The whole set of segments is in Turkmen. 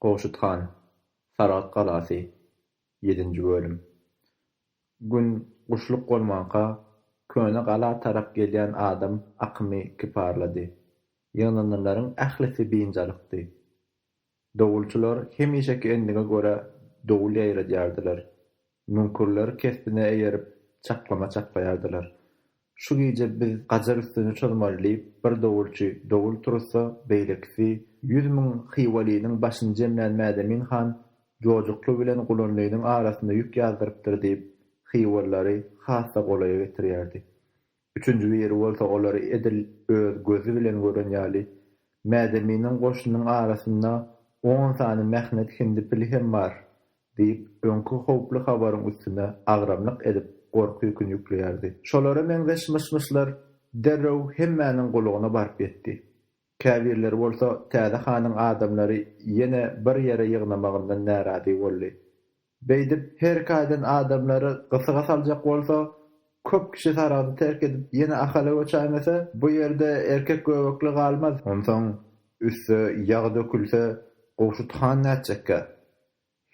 Gowşut han, Saragt galasy, ýedinji bölüm. Gün guşluk bolmanka, köne gala tarap gelýän adam akymy kiparlady. Ýygnananlaryň ählisi biynjalykdy. Dowulçylar hemişeki endige görä dowul ýaýradýardylar. Müňkürler kesbine eýerip, çaklama çaklaýardylar. Şu gije biz gajar üstüni çozmaly diýip, bir dowulçy dowul turuzsa, beýlekisi, ýüz müň hywalynyň başyny jemlän Mädemin han Jojukly bilen Gulanlynyň arasynda ýük ýazdyrypdyr diýip, hywalylary has-da golaýa getirýärdi. Üçünji biri bolsa olary edil öz gözi bilen gören ýaly, Mädeminiň goşunyň arasynda on sany mähnet hindi pili hem bar! diýip, öňki howply habaryň üstüne agramlyk edip, gorky ýüküni ýükleýärdi. Şolara meňzeş myş-myşlar derrew hemmäniň gulagyna baryp ýetdi. Käbirleri bolsa täze hanyň adamlary ýene bir ýere ýygnamagyndan närazy boldy. Beýdip her kaýdan adamlary gysyga saljak bolsa, köp kişi saragyny terk edip ýene Ahala göçäýmese, bu ýerde erkek göbekli galmaz. Onsoň üste ýag dökülse, Gowşut han nätjekkä?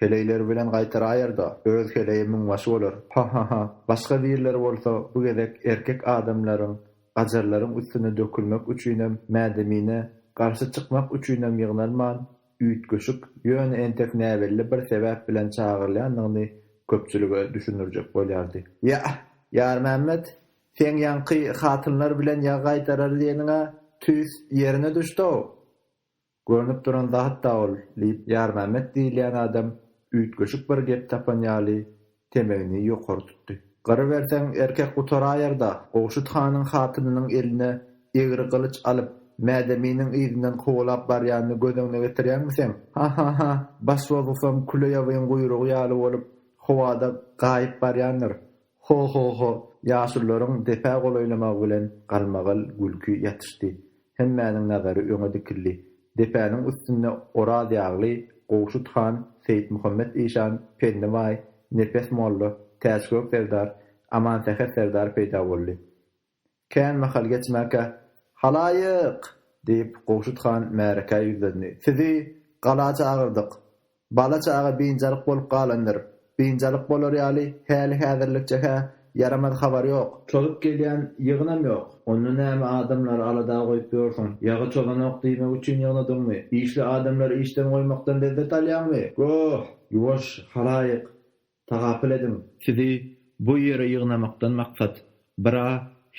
Heleýleri bilen gaýtaraýar-da, öz heleýi müňbaşy bolar. Ha-ha-ha! Başga birleri bolsa bu gezek erkek adamlaryň, gajarlaryň üstüne dökülmek üçinem, mädemine, garşy çykmak üçinem ýygnalman, üýtgeşik, ýöne entek näbelli bir sebäp bilen çagyrylýandygyny köpçülige düşündirjek bolýardy. Ýa-a, Ýarmämmet, seň ýaňky hatynlar bilen ýag gaýtarar diýeniň-ä tüýs ýerine düşdi-ow! Görnüp duran zat-da ol, diýip, Ýarmämmet diýilýän adam üýtgeşik bir gep tapan ýaly, temegini ýokary tutdy. Gyryberseň, erkek gutaraýar-da! Gowşut hanyň hatynynyň eline egri gylyç alyp, Mädeminiň yzyndan kowalap barýanyny göz öňüne getirýäňmi seň? Ha-ha-ha! Baş bozgusam küleýawyň guýrugy ýaly bolup, howada gaýyp barýandyr. Ho-ho-ho! Ýaşulularyň depä golaýlamagy bilen galmagal gülki ýatyşdy. Hemmäniň nazary öňe dikildi. Depäniň üstünde Orazýagly, Gowşut han, Seýitmuhammet işan, Penni baý, Nepes molla, Täçgök serdar, Amansäher serdar peýda boldy. Kän mahal geçmänkä, Halaýyk! diýip, Gowşut han märekä ýüzlendi. Sizi gala çagyrdyk. Bala çaga biynjalyk bolup galandyr. Biynjalyk bolar ýaly häli-häzirlikçe-hä ýaramaz habar ýok. Çozup gelýän ýygynam ýok. Onda näme adamlary alada goýup ýörsiň? Ýagy çozanok diýmek üçin ýygnadyňmy? Işli adamlary işden goýmakdan lezzet alýaňmy? Goh! Ýuwaş, halaýyk! Tagapyl ediň! Sizi bu ýere ýygnamakdan maksat, bir-a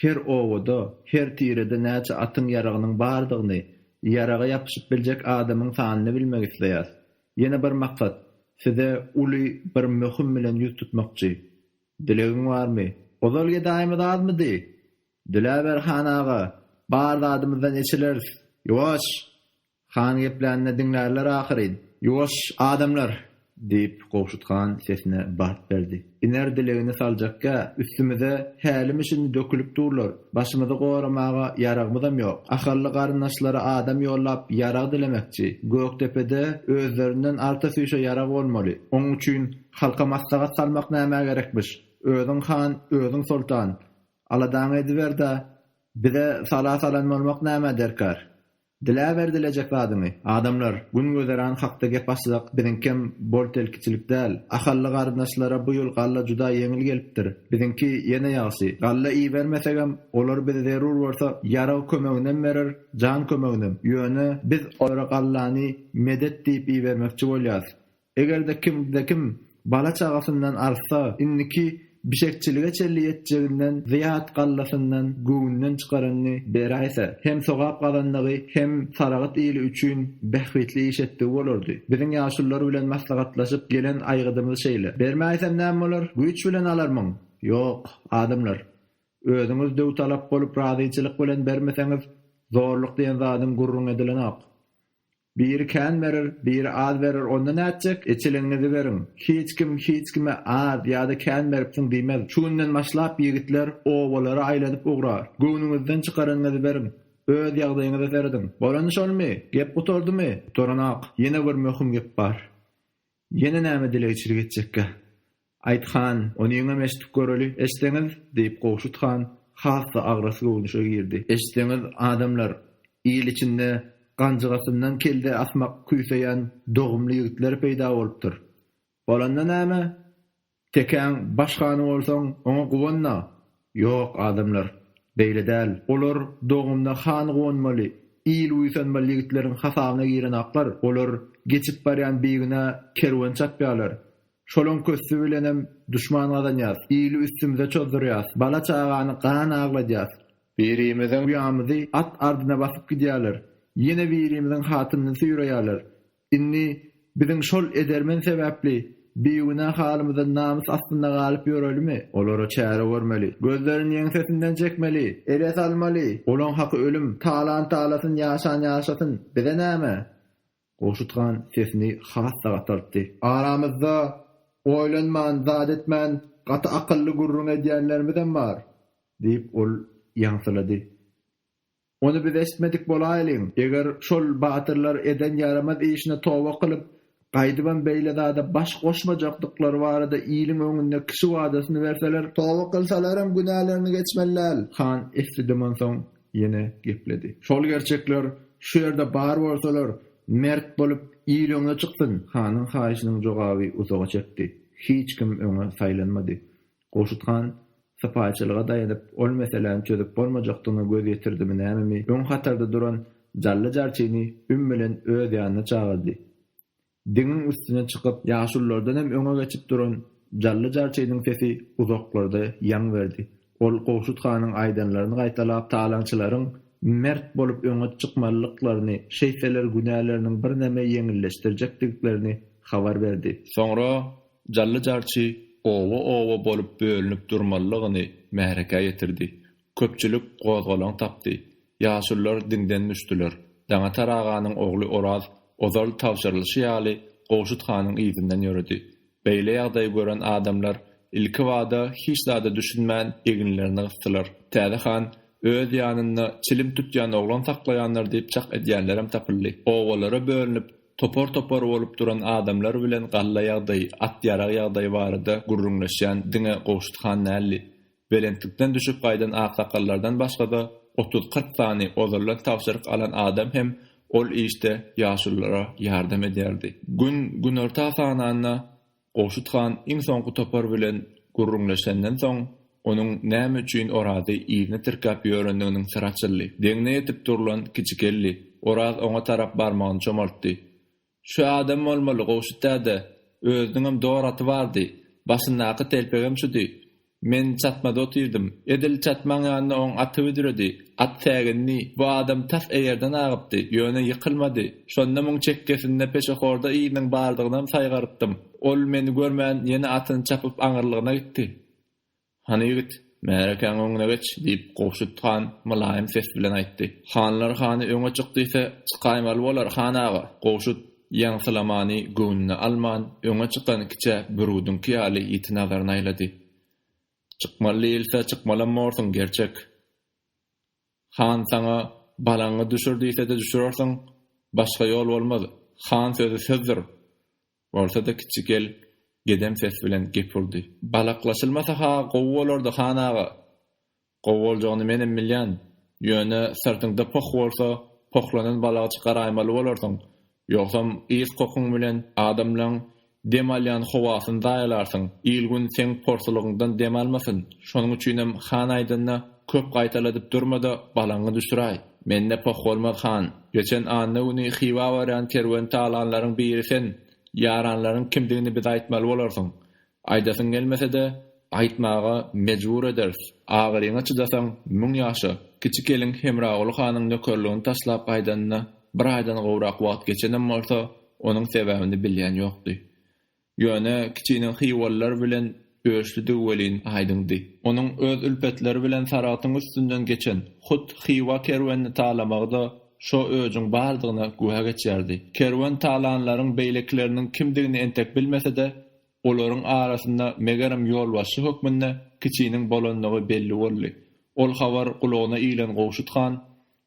her obada, her tirede näçe atyň ýaragynyň bardygyny, ýaraga ýapyşyp biljek adamyň sanyny bilmek isleýäs. Ýene bir maksat, size uly bir möhüm bilen ýüz tutmakçy. Dilegiň barmy? Ozal gedaýymyz azmydy? Diläber, han aga, bar zadymyzdan eçileris. Ýuwaş! Han geplänini diňlärler ahyryn. Ýuwaş, adamlar! diýip, Gowşut han sesine bat berdi. Iner dilegini saljakkä, üstümize hälimi-şindi dökülip durlar. Başymyzy goramaga ýaragymyzam ýok. Ahally garyndaşlary adam ýollap, ýarag dilemekçi. Gökdepede özlerinden arta süýşe ýarag bolmaly. Oň üçin halka maslahat salmak nämä gerekmiş? Özüň han, özüň soltan. Aladaňy ediber-de, bize sala salan bolmak nämä derkar? Diläber dilejek zadyňy. Adamlar, gün gözeran hakda gep açsak, biziňkem bol-telkiçilik däl. Ahally garyndaşlara bu ýyl galla juda ýeňil gelipdir. Biziňki ýene ýagşy. Galla ibermesegem, olar bize zerur bolsa, ýarag kömeginem berer, jan kömeginem. Ýöne, biz olara gallany medet diýip ibermekçi bolýas. Eger-de kimde-kim bala-çagasyndan artsa, indiki bişekçilige çenli ýetjeginden zyýat gallasyndan göwünden çykaranyny beräýse, hem sogap gazandygy, hem Saragt ili üçin bähbitli iş etdigi bolardy. Biziň ýaşulular bilen maslahatlaşyp gelen aýgydymyz şeýle. Bermäýsem näme bolar? Güýç bilen alarmyň? Ýok, adamlar. Özüňiz döwtalap bolup razyçylyk bilen bermeseňiz, zorluk diýen zadyň gürrüň edilenok. Biri kän berer, biri az berer, onda nätjek? Eçiligiňizi beriň. Hiç kim hiç kime az ýa-da kän beripsiň diýmez. Şu günden başlap ýigitler obalara aýlanyp ugrar. Göwnüňizden çykaranyňyzy beriň. Öz ýagdaýyňyza serediň. Bolany şolmy? Gep gutardymy? Gutaranok. Ýene bir möhüm gep bar. Ýene näme dilegçilik etjekkä? Aýt han, onyňam eşidip göreli, eştseňiz! diýip, Gowşut han has-da agras göwnüşe girdi. Eştseňiz, adamlar, il içinde ganjygasyndan kelle asmak küýseýän dogumly ýigitler peýda bolupdyr. Bolanda näme? Tekäň baş hany bolsaň, oňa guwan-da! Ýok, adamlar, beýle däl. Olar dogumda han guwanmaly, il buýsanmaly ýigitleriň hasabyna girenaklar. Olar geçip barýan bigünä kerwen çapýarlar. Şolaň kösdi bilenem duşman gazanýas. Ili üstümize çozdurýas. Bala-çagany gan agladýas. Birimiziň uýamyzy at ardyna basyp gidýärler. Ýene birimiziň hatynyny süýreýärler. Indi biziň şol edermen sebäpli bigünä halymyzdan namys astynda galyp ýörelimi? Olara çäre görmeli. Gözlerini ýeňsesinden çekmeli. Ele salmaly. Olaň haky ölüm. Talant alasyn, ýaşan ýaşasyn. Bize näme? Gowşut han sesini has-da gataltdy. Aramyzda oýlanman, zat etmän, gaty akylly gürrüň edýänlerimizem bar, diýip, ol ýaňsylady. Ony biz eşitmedik bolaýlyň. Eger şol batyrlar eden ýaramaz işine toba kylyp, gaýdybam beýle zada baş goşmajakdyklary barada iliň öňünde kişi wadasyny berseler. Toba kylsalaram günälerini geçmeliler. Han esdedem onsoň ýene gepledi. Şol gerçekler şu ýerde bar bolsalar, mert bolup, il öňe çyksyn. Hanyň haýyşynyň jogaby uzaga çekdi. Hiç kim öňe saýlanmady. Gurşut han sypaýyçylyga daýanyp, ol meseläni çözüp bolmajakdygyna göz ýetirdimi nämemi, öň hatarda duran Jally jarçyny üm bilen öz ýanyna çagyrdy. Diňiň üstüne çykyp, ýaşululardan hem öňe geçip duran Jally jarçynyň sesi uzaklarda ýaň berdi. Ol Gurşut hanyň aýdanlaryny gaýtalap, talaňçylaryň mert bolup öňe çykmalydyklaryny, şeýtseler günäleriniň birneme ýeňilleşdirjekdigiklerini habar berdi. Soňra Jally-jarçy oba-oba bolup bölünip durmalylygyny märekä ýetirdi. Köpçülik gozgalaň tapdy. Ýaşulular diňden düşdüler. Daňatar aganyň ogly Oraz ozal tabşyrylyşy ýaly Gowşut hanyň yzyndan ýöredi. Beýle ýagdaýy gören adamlar ilkibada hiç zada düşünmän eginlerini gysdylar. Täze han öz ýanynda çilim tutýan oglan saklaýandyr diýip çak edýänlerem tapyldy. Obalara bölünip Topar-topar bolup duran adamlar bilen galla ýagdaýy, at-ýarag ýagdaýy barada gürrüňleşýän diňe Gowşut han däldi. Belentlikden düşüp gaýdan aksakallardan başga-da, otuz-kyrk sany ozaldan tabşyryk alan adam hem ol işde ýaşululara ýardam edýärdi. Gün günorta sananda, Gowşut han iň soňky topar bilen gürrüňleşenden soň, onuň näme üçin Orazy yzyna tirkäp ýörendiginiň syry açyldy. Deňine ýetip durlan kiçi geldi. Oraz oňa tarap barmagyny çomaltdy. Şu adam bolmaly, Gowşut däde. Özüniňem dor aty bardy. Başyndaky telpegem şudy. Men çatmada otyrdym. Edil çatmaň ýanynda oň aty büdredi. At sägindi. Bu adam tas eýerden agypdy, ýöne ýykylmady. Şonda muň çekgesinde peşehorda yzynyň bardygynam saýgarypdym. Ol meni görmän, ýene atyny çapyp aňyrlygyna gitdi. Hany ýigit, märekäň öňüne geç, diýip, Gowşut han mylaýym ses bilen aýtdy. Hanlar hany öňe çyk diýse, çykaýmaly bolar, han aga. Gowşut Ýaňsylamany göwnüne alman, öňe çykan kiçä biruduňky ýaly ýiti nazaryny aýlady. Çykmaly diýilse, çykmalam borsuň, gerçek. Han saňa balaňy düşür diýse-de düşürersiň, başga ýol bolmaz, han sözi sözdür! Bolsa-da kiçi gel gedem ses bilen gep urdy. Balaklaşylmasa-ha gowy bolardy, han aga. Gowy boljagyny menem bilýän. Ýöne syrtyňda poh bolsa, pohlanan balagçy garaýmaly bolarsyň. Ýogsam ys kokuň bilen adamlaň dem alýan howasyny zaýalarsyň. Il-gün seň porsulygyňdan dem almasyn. Şonuň üçinem han aýdanyna köp gaýtaladyp durma-da, balaňy düşüräý. Mende poh bolmaz, han. Geçen anna güni Hywa barýan kerweni talanlaryň biri sen. Ýaranlaryň kimdigini bize aýtmaly bolarsyň. Aýdasyň gelmese-de, aýtmaga mejbur ederis. Agyryňa çydasaň, müň ýaşa. Kiçi gelin Hemraguly hanyň nökerligini taşlap gaýdanyna bir aýdan gowrak wagt geçenem bolsa, onuň sebäbini bilýän ýokdy. Ýöne kiçiniň hywalylar bilen öçlidigi welin aýdyňdy. Onuň öz ülpetleri bilen Saragtyň üstünden geçen hut Hywa kerwenini talamagy-da şo öçüň bardygyna güwä geçýärdi. Kerwen talanlaryň beýlekileriniň kimdigini entek bilmese-de, Olaryň arasynda megerem ýolbaşçy hökmünde kiçiniň bolandygy belli boldy. Ol habar gulagyna ilen Gowşut han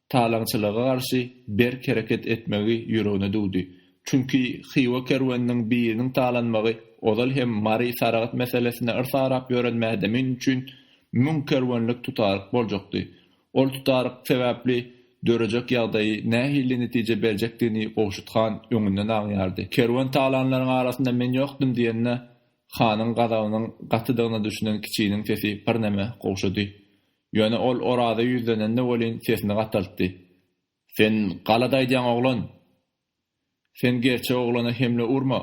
talaňçylyga garşy berk hereket etmegi ýüregine düwdi. Çünki Hywa kerweniniň biriniň talanmagy ozal hem Mary Saragt meselesinde yrs arap ýören mädemin üçin müň kerwenlik tutaryk boljakdy. Ol tutaryk sebäpli dörejek ýagdaýy nähili netije berjekdigini Gowşut han öňünden agýardy. Kerwen talanlaryň arasynda men ýokdym diýende, hanyň gazabynyň gatydygyna düşünen kiçiniň sesi birneme gowşady. Ýöne ol Oraza ýüzlenende welin sesini gataltdy. Sen galady aýdýaň oglan! Sen gerçek oglana hemle urma!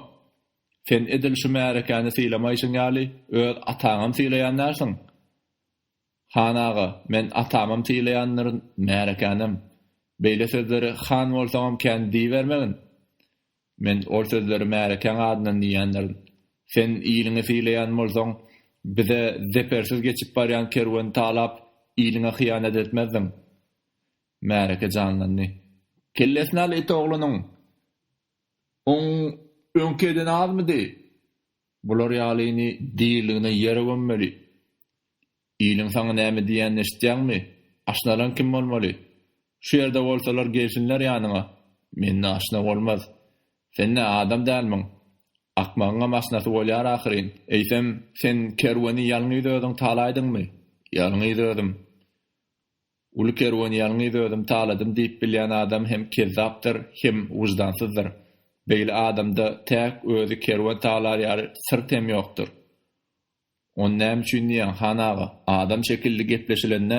Sen edil şu märekäni sylamaýşyň ýaly, öz ataňam sylaýan dälsiň! Han aga, men atamam sylaýandyryn, märekänem. Beýle sözleri han bolsaňam kän diýibermegin. Men ol sözleri märekäň adyndan diýýändirin. Sen iliňi sylaýan bolsaň, bize zepersiz geçip barýan kerweni talap, iliňe hyýanat etmezdiň. Märeke janlandy. Kellesini al it oglunyň! Oň öňki edeni azmydy? Bular ýalyny diriligine ýere gömmeli. Iliň saňa näme diýýänini eşitýäňmi? Aşnalaň kim bolmaly? Şu ýerde bolsalar gelsinler ýanyňa. Mende aşna bolmaz. Sen nä adam dälmiň? Akmagyňam aşnasy bolýar ahyryn. Eýsem, sen kerweni ýalňyz özüň talaýdyňmy? Ýalňyz özüm. Uly kerwen ýalňyz özüm taladym diýip bilýän adam hem kezzapdyr, hem wyždansyzdyr. Beýle adamda täk özi kerwen talar ýaly syrt hem ýokdur. Ony näme üçin diýýäň, han aga? Adam şekilli gepleşilende,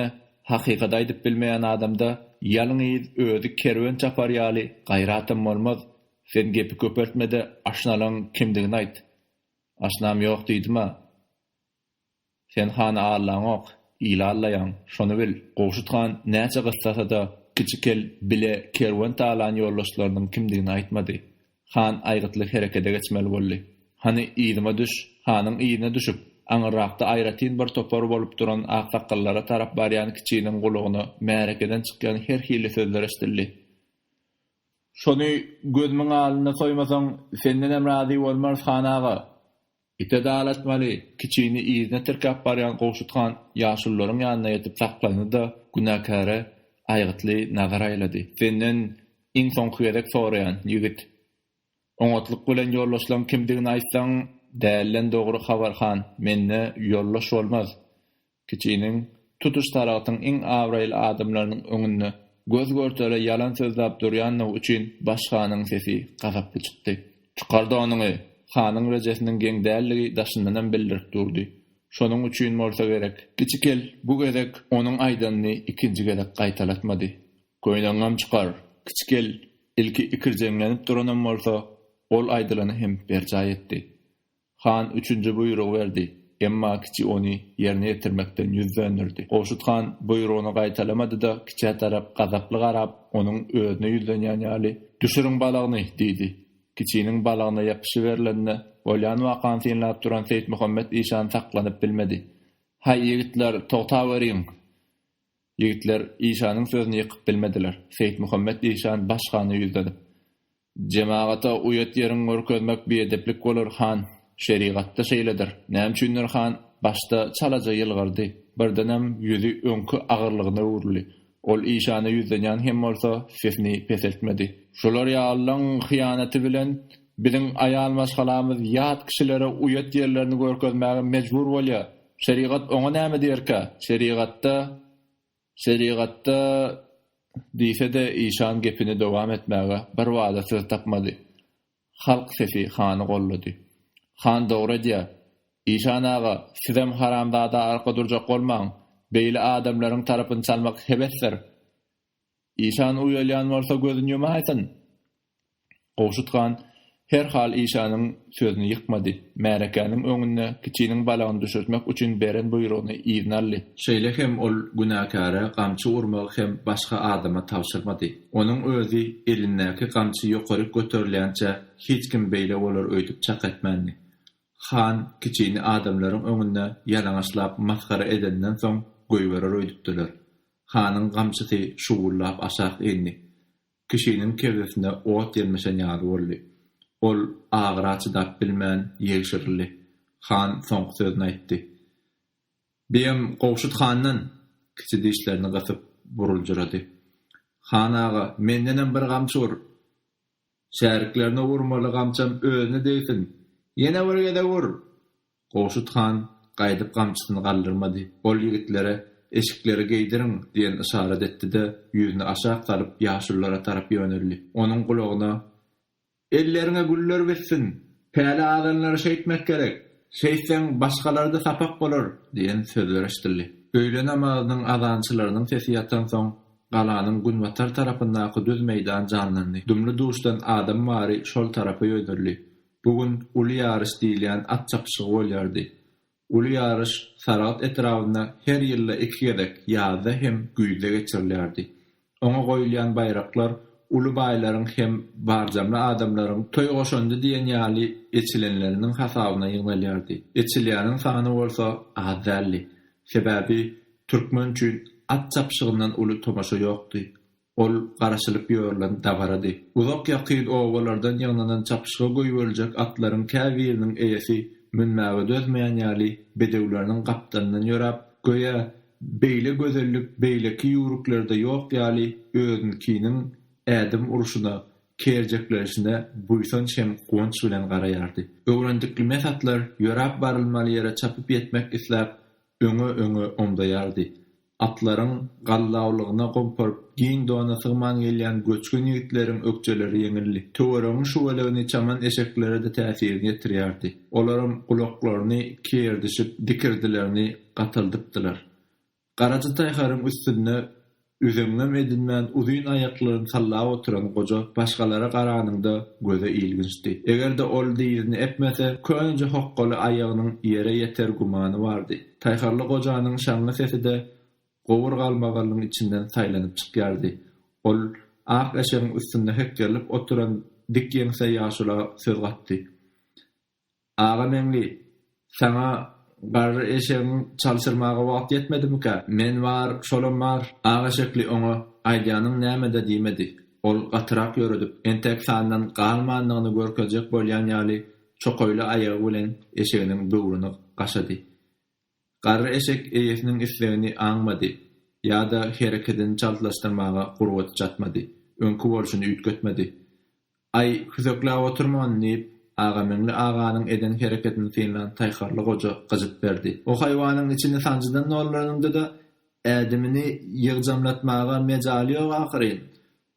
hakykat aýdyp bilmeýän adamda ýalňyz özi kerwen çapar ýaly gaýratam bolmaz. Sen gepi köpeltme-de, aşnalaň kimdigini aýt. Aşnam ýok diýdim-ä. Sen hany allaňok, ili allaýaň, şony bil, Gowşut han näçe gyssasa-da, Kiçi kel bile kerwen talan ýoldaşlarynyň kimdigini aýtmady. Han aýgytly herekede geçmeli boldy. Hany, yzyma düş! Hanyň yzyna düşüp, aňyrrakda aýratyn bir topar bolup duran aksakgallara tarap barýan kiçiniň gulagyna märekeden çykýan her hili sözler eşidildi. Şony gözümiň alynda soýmasaň, sendenem razy bolmarys, han aga! Ite dalatmaly, kiçini yzyna tirkäp barýan Gowşut han ýaşulularyň ýanyna ýetip saklandy-da, günäkäre aýgytly nazar aýlady. Senden iň soňky gezek soraýan, ýigit. Oňatlyk bilen ýoldaşlaň kimdigini aýtsaň. Dälden dogry habar, han. Mende ýoldaş bolmaz. Kiçiniň, tutuş Saragtyň iň abraýly adamlarynyň öňünde göz-görtele ýalan sözläp durýandygy üçin baş hanyň sesi gazaply çykdy. Çykar-da onyňy! Hanyň rejesiniň geň däldigi daşyndanam bildirip durdy. Şonuň üçin bolsa gerek, Kiçi kel bu gezek onuň aýdanyny ikinji gezek gaýtalatmady. Köýnegiňem çykar! Kiçi kel ilki ikirjeňlenip duranam bolsa, ol aýdylany hem berjaý etdi. Han üçünji buýrugy berdi, emma kiçi ony ýerine ýetirmekden ýüz dönderdi. Gowşut han buýrugyny gaýtalamady-da, kiçä tarap gazaply garap, onuň özüne ýüzlenýän ýaly, Düşüriň balagyny! diýdi. Kiçiniň balagyna ýapyşy berlende, bolýan wakany synlap duran Seýitmuhammet işan saklanyp bilmedi. Haý, ýigitler, togtaweriň! Ýigitler işanyň sözüni ýykyp bilmediler. Seýitmuhammet işan baş hana ýüzlenip. Jemagata uýat ýeriňi görkezmek biedeplik bolar, han. Şerigatda şeýledir. Näme üçindir han başda çalaja ýylgyrdy. Birdenem ýüzi öňki agyrlygyna öwrüldi. Ol işana ýüzlenýän hem bolsa, sesini peseltmedi. Şular ýalylaň hyýanaty bilen biziň aýal maşgalamyz ýat kişilere uýat ýerlerini görkezmäge mejbur bolýar. Şerigat oňa näme diýerkä? Şerigatda, şerigatda, diýse-de, işan gepini dowam etmäge birbada söz tapmady. Halk sesi hany goldady. Han dogry edýär. Işan aga, sizem haramzada arka durjak bolmaň. Beýle adamlaryň tarapyny çalmak hebesdir. Işan uýalýan bolsa gözün ýumaýsyn. Gowşut han her hal işanyň sözüni ýykmady. Märekäniň öňünde kiçiniň balagyny düşürtmek üçin beren buýrugyny yzyna aldy. Şeýle hem ol günäkäre gamçy urmagy hem başga adama tabşyrmady. Onuň özi elindäki gamçy ýokaryk göterilýänçä hiç kim beýle bolar öýdüp çak etmändi. Han kiçini adamlaryň öňünde ýalaňaçlap masgara edeninden soň goýberer öýdüpdiler. Hanyň gamçysy şuwwullap aşak indi. Kişiniň kebzesine ot ýelmeşen ýaly boldy. Ol agyra çydap bilmän ýegşirildi. Han soňky sözüni aýtdy. Biýem Gowşut handan! Kiçi dişlerini gysyp, buruljyrady. Han aga, mendenem bir gamçy ur! Şäriklerine urmaly gamçam özüne degsin! Ýene bir gezek ur! Gowşut han gaýdyp gamçysyny galdyrmady. Ol ýigitlere eşikleri geýdiriň! diýen yşarat etdi-de, ýüzüni aşak salyp, ýaşululara tarap ýöneldi. Onuň gulagyna, Elleriňe güller bitsin! Päli azanlary şeýtmek gerek! Şeýtseň, başgalara-da sapak bolar! diýen sözler eşidildi. Öýle namazynyň azançylarynyň sesi ýatansoň, Galanyň günbatar tarapyndaky düz meýdan janlandy. Dumly-duşdan adam bary şol tarapa ýöneldi. Bu gün uly ýaryş diýilýän at çapyşygy bolýardy. Uly ýaryş Saragt etrabynda her ýylda iki gezek, ýazda hem güýzde geçirilýärdi. Oňa goýulýan baýraklar uly baýlaryň hem barjamly adamlaryň toý goşandy diýen ýaly eçilenleriniň hasabyna ýygnalýardy. Eçilýäniň sany bolsa az däldi. Sebäbi Türkmen üçin at çapyşygyndan uly tomaşa ýokdy. Ol garaşylyp ýörlen dabarady. Uzak-ýakyn obalardan ýygnanan çapyşyga goýberiljek atlaryň käbiriniň eýesi münmäge dözmeýän ýaly bedewleriniň gapdalyndan ýöräp, göýä, beýle gözellik beýleki ýüwrüklerde ýok ýaly özünkiniň ädim urşuna, kerjekleşine buýsanç hem guwanç bilen garaýardy. Öwrendiklime satlar ýöräp barylmaly ýere çapyp ýetmek isläp, öňe-öňe omzaýardy. Atlaryň gallawlygyna gomparyp, giň dona sygman gelýän göçgün ýigitleriň ökjeleri ýeňildi. Töweregiň şüweleýini çaman eşeklere-de täsirini ýetirýärdi. Olaram gulaklaryny kiýerdişip, dikirdilerini gataldypdylar. Garaja taýharyň üstünde Üzeňňem edinmän uzyn aýaklaryny sallap oturan goja başgalara garanyňda göze ilginçdi. Eger-de ol dyzyny epmese, köneje hokgaly aýagynyň ýere ýeter gümany bardy. Taýharly gojanyň şaňňy sesi-de gowur galmagallygyň içinden saýlanyp çykýardy. Ol ak eşegiň üstünde hekgerlip oturan dik ýeňse ýaşula söz gatdy. Aga Meňli, saňa garry eşegiňi çalşyrmaga wagt ýetmedimikä? Men bar, şolam bar. Aga Şekli oňa Aýdýanyň näme-de diýmedi. Ol gatyrak ýöredip, entek sandan galmandygyny görkezjek bolýan ýaly çokaýly aýagy bilen eşeginiň böwrüni gaşady. Garry eşek eýesiniň islegini aňmady ýa-da herekedini çaltlaşdyrmaga gurbaty çatmady, öňki bolşuny üýtgetmedi. Aý, hüsekläp oturman, diýip, Agameňli aganyň eden herekedini synlan Taýharly goja gyjyt berdi. O haýwanyň içini sanjydan dolduranyňda-da, ädimini ýygjamlatmaga mejaly ýok ahyryn.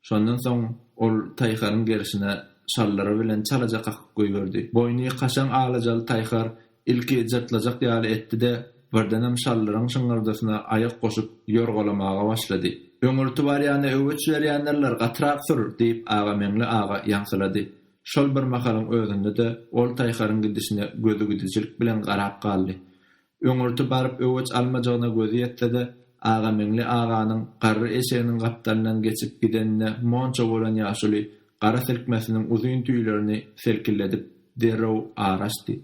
Şondan soň ol taýharyň gerşine şallary bilen çalaja kakyp goýberdi. Boýny kaşaň alajaly taýhar ilki jyrtlajak ýaly etdi-de, birdenem şallaryň şyňňyrdysyna aýak goşup, ýorgalamaga başlady. Öňürti barýana öwüç berýändirler, gatyrak sür! diýip, Agameňli aga ýaňsylady. Şol bir mahalyň özünde-de ol taýharyň gidişine gözügidijilik bilen garap galdy. Öňürti baryp öweç almajagyna gözi ýetse-de, Agameňli aganyň garry eşeginiň gapdalyndan geçip gidenine monça bolan ýaşuly gara silkmesiniň uzyn tüýlerini selkilledip, derrew ar açdy.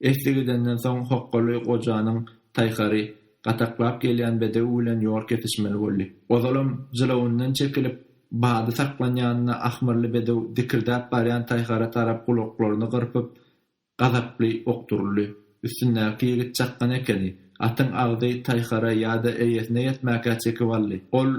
Esli gidenden soň hokgaly gojanyň taýhary gataklap gelýän bedew bilen ýol kesişmeli boldy. Ozalam jylawyndan çekilip, bady saklanýanyna ahmyrly bedew dikirdäp barýan taýhara tarap gulaklaryny gyrpyp, Gazaply ok duruldy. Üstündäki ýigit çakgan ekeni. Atyň agzy taýhara ýa-da eýesine ýetmäkä çekip aldy. Ol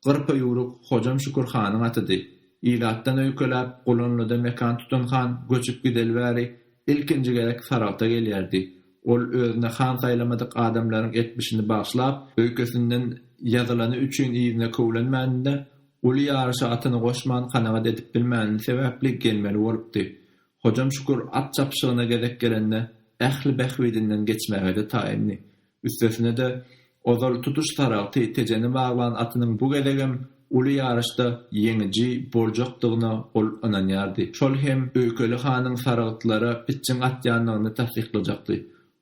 gyrpaýuruk Hojam Şükür hanyň atydy. Ilatdan öýkeläp, Gulanlyda mekan tutan han göçüp gideli bäri ilkinji gezek Saragta gelýärdi. Ol özüne han saýlamadyk adamlaryň etmişini bagşlap, öýkesinden ýazylany üçin yzyna köwlenmänini-de, uly ýaryşa atyny goşman kanagat edip bilmäni sebäpli gelmeli bolupdy. Hojam Şükür at çapyşygyna gezek gelende ähli bähbidinden geçmäge-de taýyndy. Üstesine-de, ozal tutuş saragty Tejeni baglan atynyň bu gezegem uly ýaryşda ýeňiji boljakdygyna ol ynanýardy. Şol hem Öýkeli hanyň saragtlara pitjiň atýandygyny tassyklajakdy.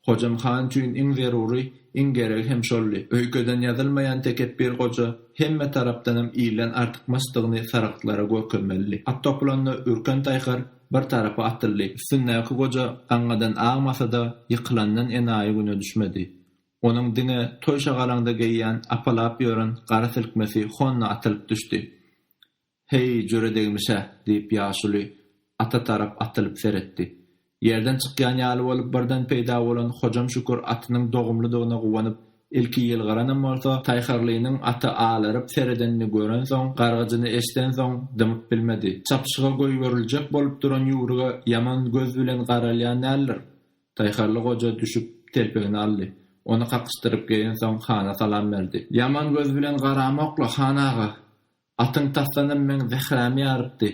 Hojam han üçin iň zerury, iň geregi hem şoldy. Öýkeden ýazylmaýan tekepbir goja hemme tarapdanam ilden artykmaçdygyny sarygtlara görkezmelidi. At topulanda ürken taýhar bir tarapa atyldy. Üstündäki goja gaňňadan agmasa-da, ýykylandan enaýy güne düşmedi. Onuň diňe toý şagalaňda geýýän apalap ýören gara silkmesi honna atylyp düşdi. Heý, jöredegmiş-ä, diýip, ýaşuly ata tarap atylyp seretdi. Ýerden çykýan ýaly bolup birden peýda bolan Hojam Şükür atynyň dogumlydygyna guwanyp, ilki ýylgyranam bolsa, Taýhyrlynyň ata alaryp seredenini görensoň, gargyjyny eşidensoň, dymyp bilmedi. Çapyşyga goýberiljek bolup duran ýüwrüge ýaman göz bilen garalýan däldir? Taýhyrly goja düşüp, telpegini aldy. Ony kakyşdyryp geýensoň, hana salam berdi. Ýaman göz bilen garamok-la, han aga! Atyň tasdanam meň zährämi ýarypdy.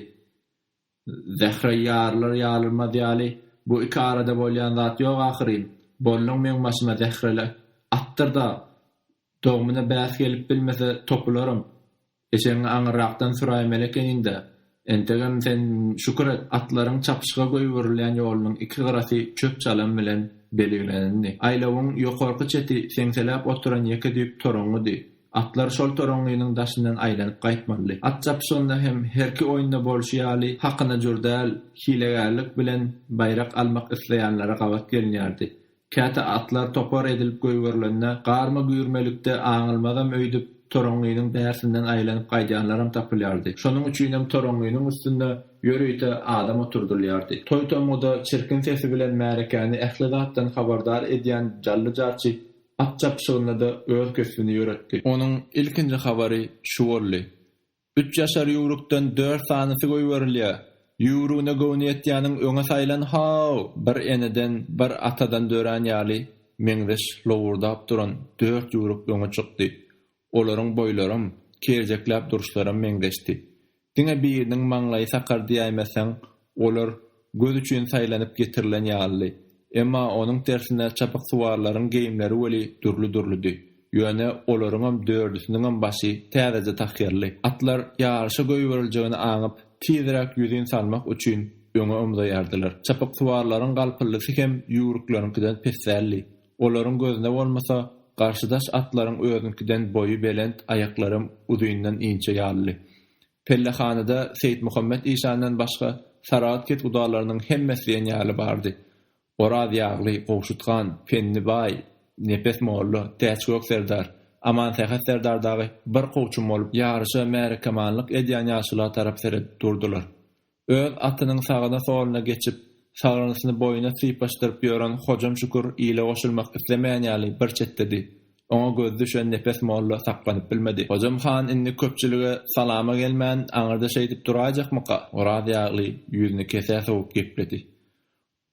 Zähre ýarylar-ýarylmaz ýaly, bu iki arada bolýan zat ýok ahyryn. Bolluň meň başyma zähreli atdyr-da, dogumyna bäs gelip bilmese topularym. Eşegiňi aňyrrakdan süräýmeli ekeniň-dä. Entegem sen şükür et, atlaryň çapyşyga goýberilýän ýolunyň iki gyrasy çöp-çalam bilen belgilenindi. Aýlawyň ýokarky çeti seňseläp oturan ýeke düýp toraňňydy. Atlar şol toraňňynyň daşyndan aýlanyp gaýtmalydy. At çapyşygynda hem herki oýunda bolşy ýaly, hakyna jür däl, hilegärlik bilen baýrak almak isleýänlere gabat gelinýärdi. Käte atlar topar edilip goýberilende, garma-güýrmelikde aňylmazam öýdüp, toraňňynyň bärsinden aýlanyp gaýdýanlaram tapylýardy. Şonuň üçinem toraňňynyň üstünde ýörite adam oturdylýardy. Toý-tomguda çirkin sesi bilen märekäni ähli zatdan habardar edýän jally-jarçy At çapyşygynda-da öz kösbüni ýöretdi. Onuň ilkinji habary şu boldy. Üç ýaşar ýüwrükden dört sanysy goýberilýär. Ýüwrügine göwni ýetýäniň öňe saýlan haw! Bir eneden, bir atadan dörän ýaly meňzeş lowurdap duran dört ýüwrük öňe çykdy. Olaryň boýlaram, kerjekläp duruşlaram meňzeşdi. Diňe biriniň maňlaýy sakar diýäýmeseň, olar göz üçin saýlanyp getirilen ýalydy. Emma onuň tersine çapyksuwarlaryň geýimleri weli dürli-dürlüdi. Ýöne olaryňam dördüsiniňem başy täzeje tahýyrly. Atlar ýaryşa goýberiljegini aňyp, tizräk ýüzin salmak üçin öňe ymzaýardylar. Çapyksuwarlaryň galpyldysy hem ýüwrükleriňkiden pes däldi. Olaryň gözüne bolmasa, garşydaş atlaryň özüňkiden boýy belent, aýaklaram uzyndan inçe ýalydy. Pellehanada Seýitmuhammet işandan başga Saragt ketgudalarynyň hemmesi diýen ýaly bardy. Oraz ýagly, Gowşut han, Penni baý, Nepes molla, Täçgök serdar, Amansähet serdar dagy bir kowçum bolup ýaryşa märekemanlyk edýän ýaşula tarap seredip durdular. Öz atynyň sagyna-soluna geçip, sagrynysyny boýuna sypaşdyryp ýören Hojam Şükür ile goşulmak islemeýän ýaly bir çetdedi. Oňa gözi düşen Nepes molla saklanyp bilmedi. Hojam han indi köpçülige salama gelmän, aňyrda şeýdip duraýjakmyka? Oraz ýagly ýüzüni kesä sowup gepledi.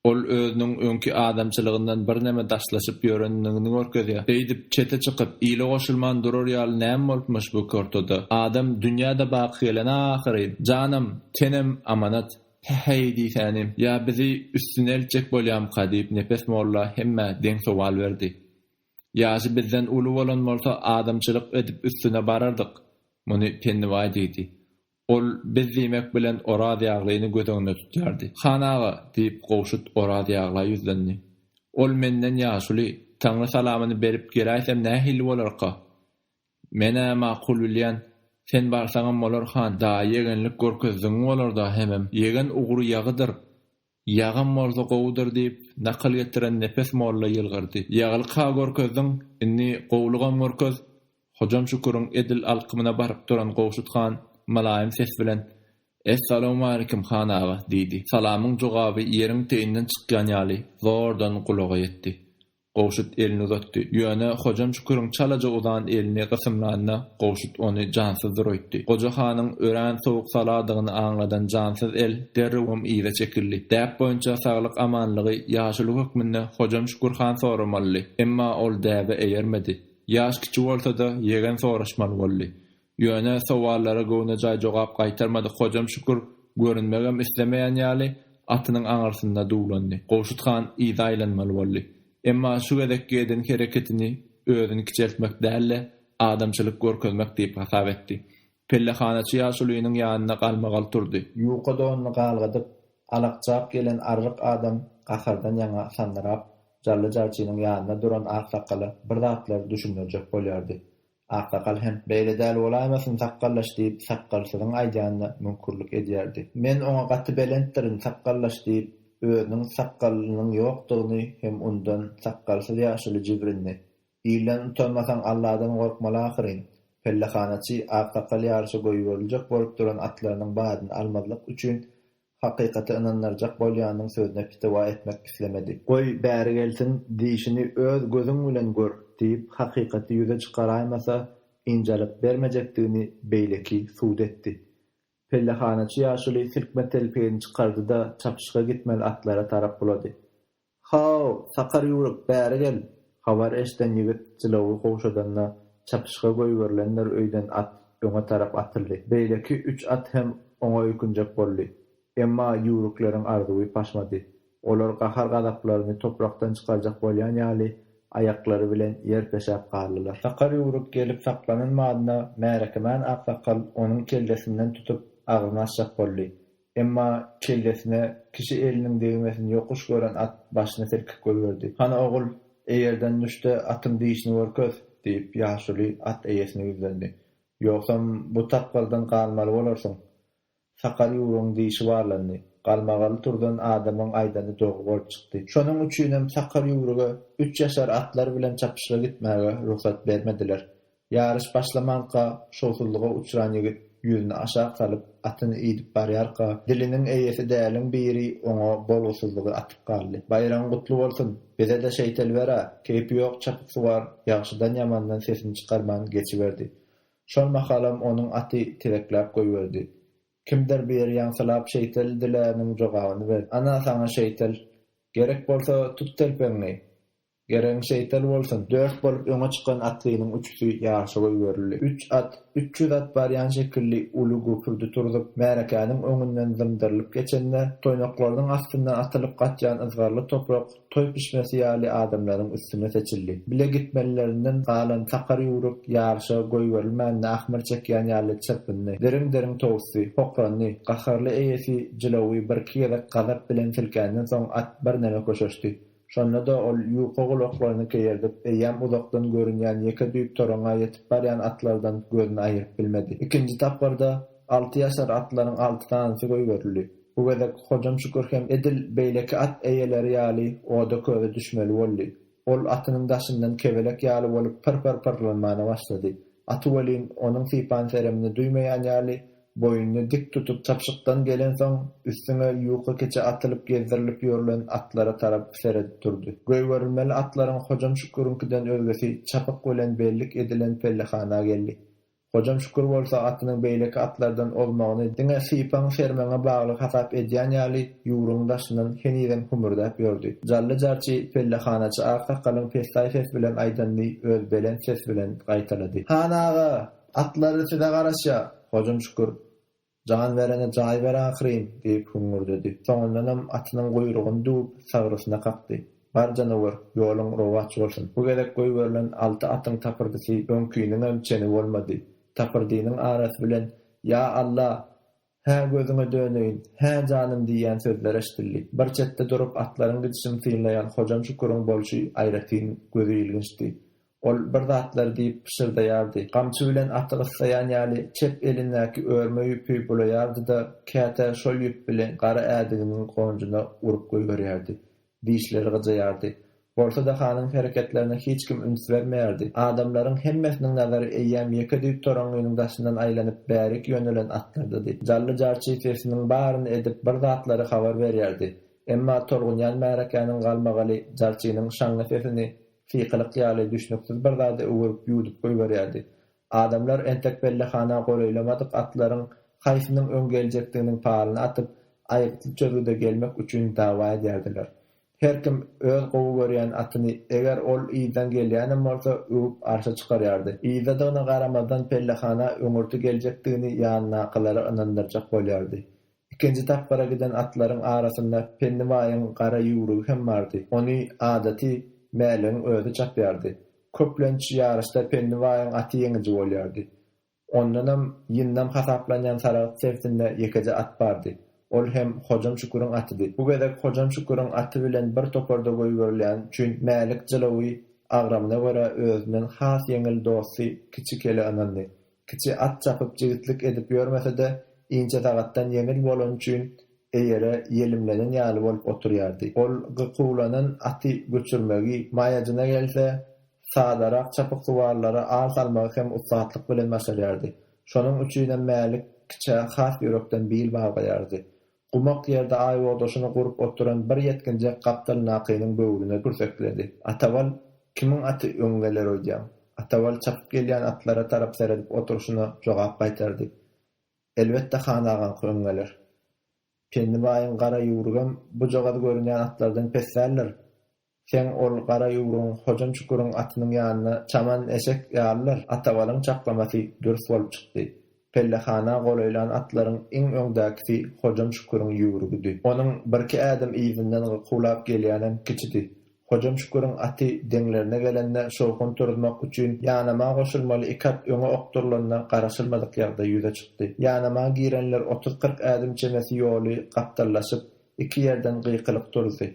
Ol özüniň öňki adamçylygyndan birneme daşlaşyp ýörendigini görkezýär. Beýdip, çete çykyp, ile goşulman durar ýaly näme bolupmyş bu iki ortada? Adam dünýä-de baky gelen-ä ahyryn. Janam, tenem amanat. He-heý diýsänim, ýa bizi üstüne eltjek bolýamyka? diýip, Nepes molla hemmä deň sowal berdi. Ýaşy bizden uly bolan bolsa, adamçylyk edip üstüne barardyk. Muny Pennibaý diýdi. Ol biz diýmek bilen Oraz Ýaglyny göz öňünde tutýardy. Han aga! diýip, Gowşut Oraz Ýagla ýüzlendi. Ol menden ýaşuly. Taňry salamyny berip geläýsem nähili bolarka? Men-ä makul bilýän. Sen barsaňam bolar, han. Daýy ýegenlik görkezdigiň bolar-da hemem. Ýegen ugry ýagydyr. Ýagam bolsa gowudyr, diýip, nakyl getiren Nepes molla ýylgyrdy. Ýaglyk-ha görkezdiň, indi gowulygam görkez! Hojam Şüküriň edil alkymyna baryp duran Gowşut han mylaýym ses bilen, Es-salawmaleýkim, han aga! diýdi. Salamyň jogaby ýeriň teýinden çykýan ýaly zordan gulaga ýetdi. Gowşut elini uzatdy. Ýöne Hojam Şüküriň çalaja uzan elini gysymlanda, Gowşut ony jansyz zuraýtdy. Goja hanyň örän sowuk saladygyny aňladan jansyz el derrewem yza çekildi. Däp boýunça saglyk-amanlygy ýaşuly hökmünde Hojam Şükür han soramalydy. Emma ol däbe eýermedi. Ýaş kiçi bolsa-da, ýegen soraşmaly boldy. Ýöne sowallara göwnejaý jogap gaýtarmadyk Hojam Şükür görünmegem islemeýän ýaly, atynyň aňyrsynda duwlandy. Gowşut han yza aýlanmaly boldy. Emma şu gezekki eden hereketini özüni kiçeltmek däl-de, adamçylyk görkezmek diýip hasap etdi. Pellehanaçy ýaşulynyň ýanynda galmagal turdy. Ýuka donuny galgadyp, alakjap gelen arryk adam gahardan ýaňa sandyrap, Jally jarçynyň ýanynda duran aksakala bir zatlary düşündirjek bolýardy. Aksakal hem, Beýle däl bolaýmasyn, sakgallaş! diýip, sakgalsyzyň aýdýanyna müňkürlik edýärdi. Men oňa gaty belentdirin, sakgallaş! diýip, özüniň sakgalynyň ýokdugyny hem unudan sakgalsyz ýaşuly jibrindi. Ilden utanmasaň, Alladan gorkmaly ahyryn! Pellehanaçy aksakal ýaryşa goýberiljek bolup duran atlarynyň badyny almazlyk üçin Hakykaty ynandyrjak bolýanyň sözüne pitiwa etmek islemedi. Goý, bäri gelsin, diýşini öz gözüň bilen gör! diýip, hakykaty ýüze çykaraýmasa, ynjalyk bermejekdigini beýleki sud etdi. Pellehanaçy ýaşuly silkme telpegini çykardy-da, çapyşyga gitmeli atlara tarap bulady. Haw, sakar ýüwrük, bäri gel! Habar eşden ýigit jylawy gowşadanda, çapyşyga goýberilenler öýden at, öňe tarap atyldy. Beýleki üç at hem oňa öýkünjek boldy. Emma ýüwrükleriň arzuwy paşmady. Olar gahar-gazaplaryny toprakdan çykarjak bolýan ýaly, aýaklary bilen ýer peşäp galdylar. Sakar ýüwrük gelip saklanyn madyna märekemen aksakal onuň kellesinden tutup, agzyny açjak boldy. Emma kellesine kişi eliniň degmesini ýokuş gören at başyny silkip goýberdi. Hany, ogul, eýerden düş-de, atyň dişini görkez! diýip, ýaşuly at eýesine ýüzlendi. Ýogsam, bu tapgyrdan galmaly bolarsyň. Sakar ýüwrügiň dişi barlandy. Galmagaly turdan adamyň aýdany dogry bolup çykdy. Şonuň üçinem sakar ýüwrüge üç ýaşar atlar bilen çapyşyga gitmäge rugsat bermediler. Ýaryş başlamanka, şowsuzlyga uçran ýigit ýüzüni aşak salyp, atyny idip barýarka, diliniň eýesi däliň biri oňa bolgusyzlygy atyp galdy, Baýragyň gutly bolsun! Bize-de şeýtel ber-ä! Keýpi ýok çapyksuwar ýagşydan-ýamandan sesini çykarman geçiberdi. Şol mahalam onuň aty tizekläp goýberdi. Kimdir biri ýaňsylap şeýtel diläniň jogabyny berdi, Ana, saňa şeýtel! Gerek bolsa, tut telpegiňi! Geregiň şeýtel bolsun! Dört bolup öňe çykan atlynyň üçüsi ýaryşa goýberildi. Üç at, üç ýüz at barýan şekilli uly güpürdi turzup, märekäniň öňünden zymdyrylyp geçende, toýnaklarynyň astyndan atylyp gaçýan yzgarly toprak toý pişmesi ýaly adamlaryň üstüne seçildi. Bile gitmelilerinden galan sakar ýüwrük ýaryşa goýberilmänine ahmyr çekýän ýaly çyrpyndy. Diriň-diriň towusdy, hokrandy. Gaharly eýesi jylawy birki gezek gazap bilen silkänden soň at birneme köşeşdi. Şonda-da ol ýuka gulaklaryny keýerdip, eýýäm uzakdan görünýän ýeke düýp toraňa ýetip barýan atlardan gözüni aýyryp bilmedi. Ikinji tapgyrda alty ýaşar atlaryň alty sanysy goýberildi. Bu gezek Hojam Şükür hem edil beýleki at eýeleri ýaly oda-köze düşmeli boldy. Ol atynyň daşyndan kebelek ýaly bolup pyr-pyr pyrlanmana başlady. Aty welin, onuň sypan-seremini duýmaýan ýaly, Boýuny dik tutup çapyşykdan gelensoň, üstüňe ýuka keçe atylyp gezdirilip ýörlen atlara tarap seredip durdy. Goýberilmeli atlaryň Hojam Şüküriňkiden özgesi çapyk bilen bellik edilen pellehana geldi. Hojam Şükür bolsa atynyň beýleki atlardan ozmagyny diňe sypaň-sermeňe bagly hasap edýän ýaly ýugrugyň daşyndan henizem hümürdäp ýördi. Jally jarçy pellehanaçy aksakalyň pessaý ses bilen aýdanyny öz belent ses bilen gaýtalady. Han aga! Atlary size garaşýa, Hojam Şükür! Jan berene jaý ber ahyryn! diýip hüňňürdedi. Soňundanam atynyň guýrugyny düwüp, sagrysyna kakdy. Bar janawer, ýoluň rowaç bolsun! Bu gezek goýberilen alty atyň tapyrdysy öňkiniňem çeni bolmady. Tapyrdynyň arasy bilen, Ýa Alla! Hä, gözüňe döneýin, hä, janym diýýän sözler eşidildi. Bir çetde durup, atlaryň gidişini synlaýan Hojam Şüküriň bolşy aýratyn gözi ilginçdi. Ol bir zatlar diýip pyşyrdaýardy, gamçy bilen aty gyssaýan ýaly çep elindäki örme ýüpi bulaýardy-da, käte şol ýüp bilen gara ädiginiň gonjuna urup goýberýärdi. Dişleri gyjaýardy. Bolsa-da hanyň hereketlerine hiç kim üns bermeýärdi. Adamlaryň hemmesiniň nazary eýýäm ýeke düýp toraňňynyň daşyndan aýlanyp bärik ýönelen atlardady. Jally jarçy sesiniň baryny edip bir zatlary habar berýärdi. Emma tolgunýan märekäniň galmagaly jarçynyň şaňňy sesini sykylyk ýaly düşnüksiz bir zada öwürip ýuwdup goýberýärdi. Adamlar entek pellehana golaýlamadyk atlaryň haýsynyň öň geljekdiginiň palyny atyp, aýgytly çözgüde gelmek üçin dawa edýärdiler. Her kim öz gowy görýän atyny, eger ol yzdan gelýänem bolsa, öwüp arşa çykarýardy. Yzdadygyna garamazdan pellehana öňürti geljekdigini ýanyndakylara ynandyrjak bolýardy. Ikinji tapgyra giden atlaryň arasynda Penni baýyň gara ýüwrügi hem bardy. Ony, adaty, Mäligiň özi çapýardy. Köplenç, ýaryşda Penni baýyň aty ýeňiji bolýardy. Ondanam ýyndam hasaplanýan Saragt sebitinde ýekeje at bardy. Ol hem Hojam Şüküriň atydy. Bu gezek Hojam Şüküriň aty bilen bir toparda goýberilýäni üçin Mälik jylawy agramyna görä özünden has ýeňil dosty Kiçi kele ynandy. Kiçi at çapyp jigitlik edip ýörmese-de, inçe sagatdan ýeňil bolany üçin eýere ýelimlenen ýaly bolup oturýardy. Ol gykuwlanan aty göçürmegi, maýajyna gelse, sadarak çapyksuwarlara al salmagy hem ussatlyk bilen başarýardy. Şonuň üçinem Mälik kiçä has ýürekden bil baglaýardy. Gumak ýerde aýbogdaşyny gurup oturan bir ýetginjek gapdalyndakynyň böwrüne kürsekledi. Atabal, kimiň aty öň geler öýdýäň? Atabal çapyp gelýän atlara tarap seredip oturyşyna jogap gaýtardy. Elbetde han agaňky öň geler. Penni baýyň gara ýüwrügem bujagaz görünýän atlardan pes däldir. Seň ol gara ýugruň Hojam Şüküriň atynyň ýanyna çaman eşek ýalydyr. Atabalyň çaklamasy dürs bolup çykdy. Pellehana golaýlan atlaryň iň öňdäkisi Hojam Şüküriň ýüwrügidi. Onuň birki ädim yzyndan gykuwlap gelýänem kiçidi. Hojam Şüküriň aty deňlerine gelende şowhun turuzmak üçin ýanama goşulmaly iki at öňe okdurylanda garaşylmadyk ýagdaý ýüze çykdy. Ýanama girenler otuz-kyrk ädim çemesi ýoly gapdallaşyp, iki ýerden gykylyk turuzdy.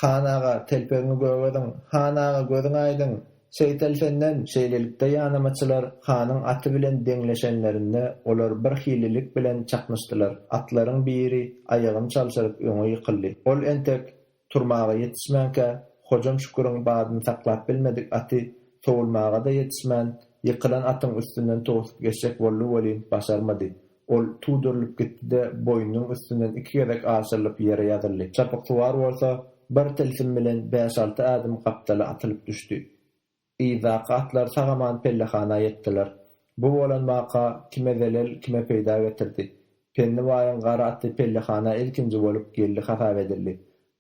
Han aga, telpegiňi gögediň! Han aga, gözüň aýdyň! Seýtel senden! Şeýlelikde ýanamaçylar hanyň aty bilen deňleşenlerinde olar birhililik bilen çaknyşdylar. Atlaryň biri aýagyny çalşyryp öňe ýykyldy. Ol entek turmaga ýetişmänkä, Hojam Şüküriň badyny saklap bilmedik aty sowulmaga-da ýetişmän, ýykylan atyň üstünden towsup geçjek boldy welin, başarmady. Ol tudurylyp gitdi-de, boýnunyň üstünden iki gezek aşyrylyp ýere ýazyldy. Çapyksuwar bolsa, bir tilsim bilen bäş-alty ädim gapdala atylyp düşdi. Yzdaky atlar sag-aman pellehana ýetdiler. Bu bolan waka kime zelel, kime peýda getirdi. Penni baýyň gara aty pellehana ilkinji bolup geldi hasap edildi.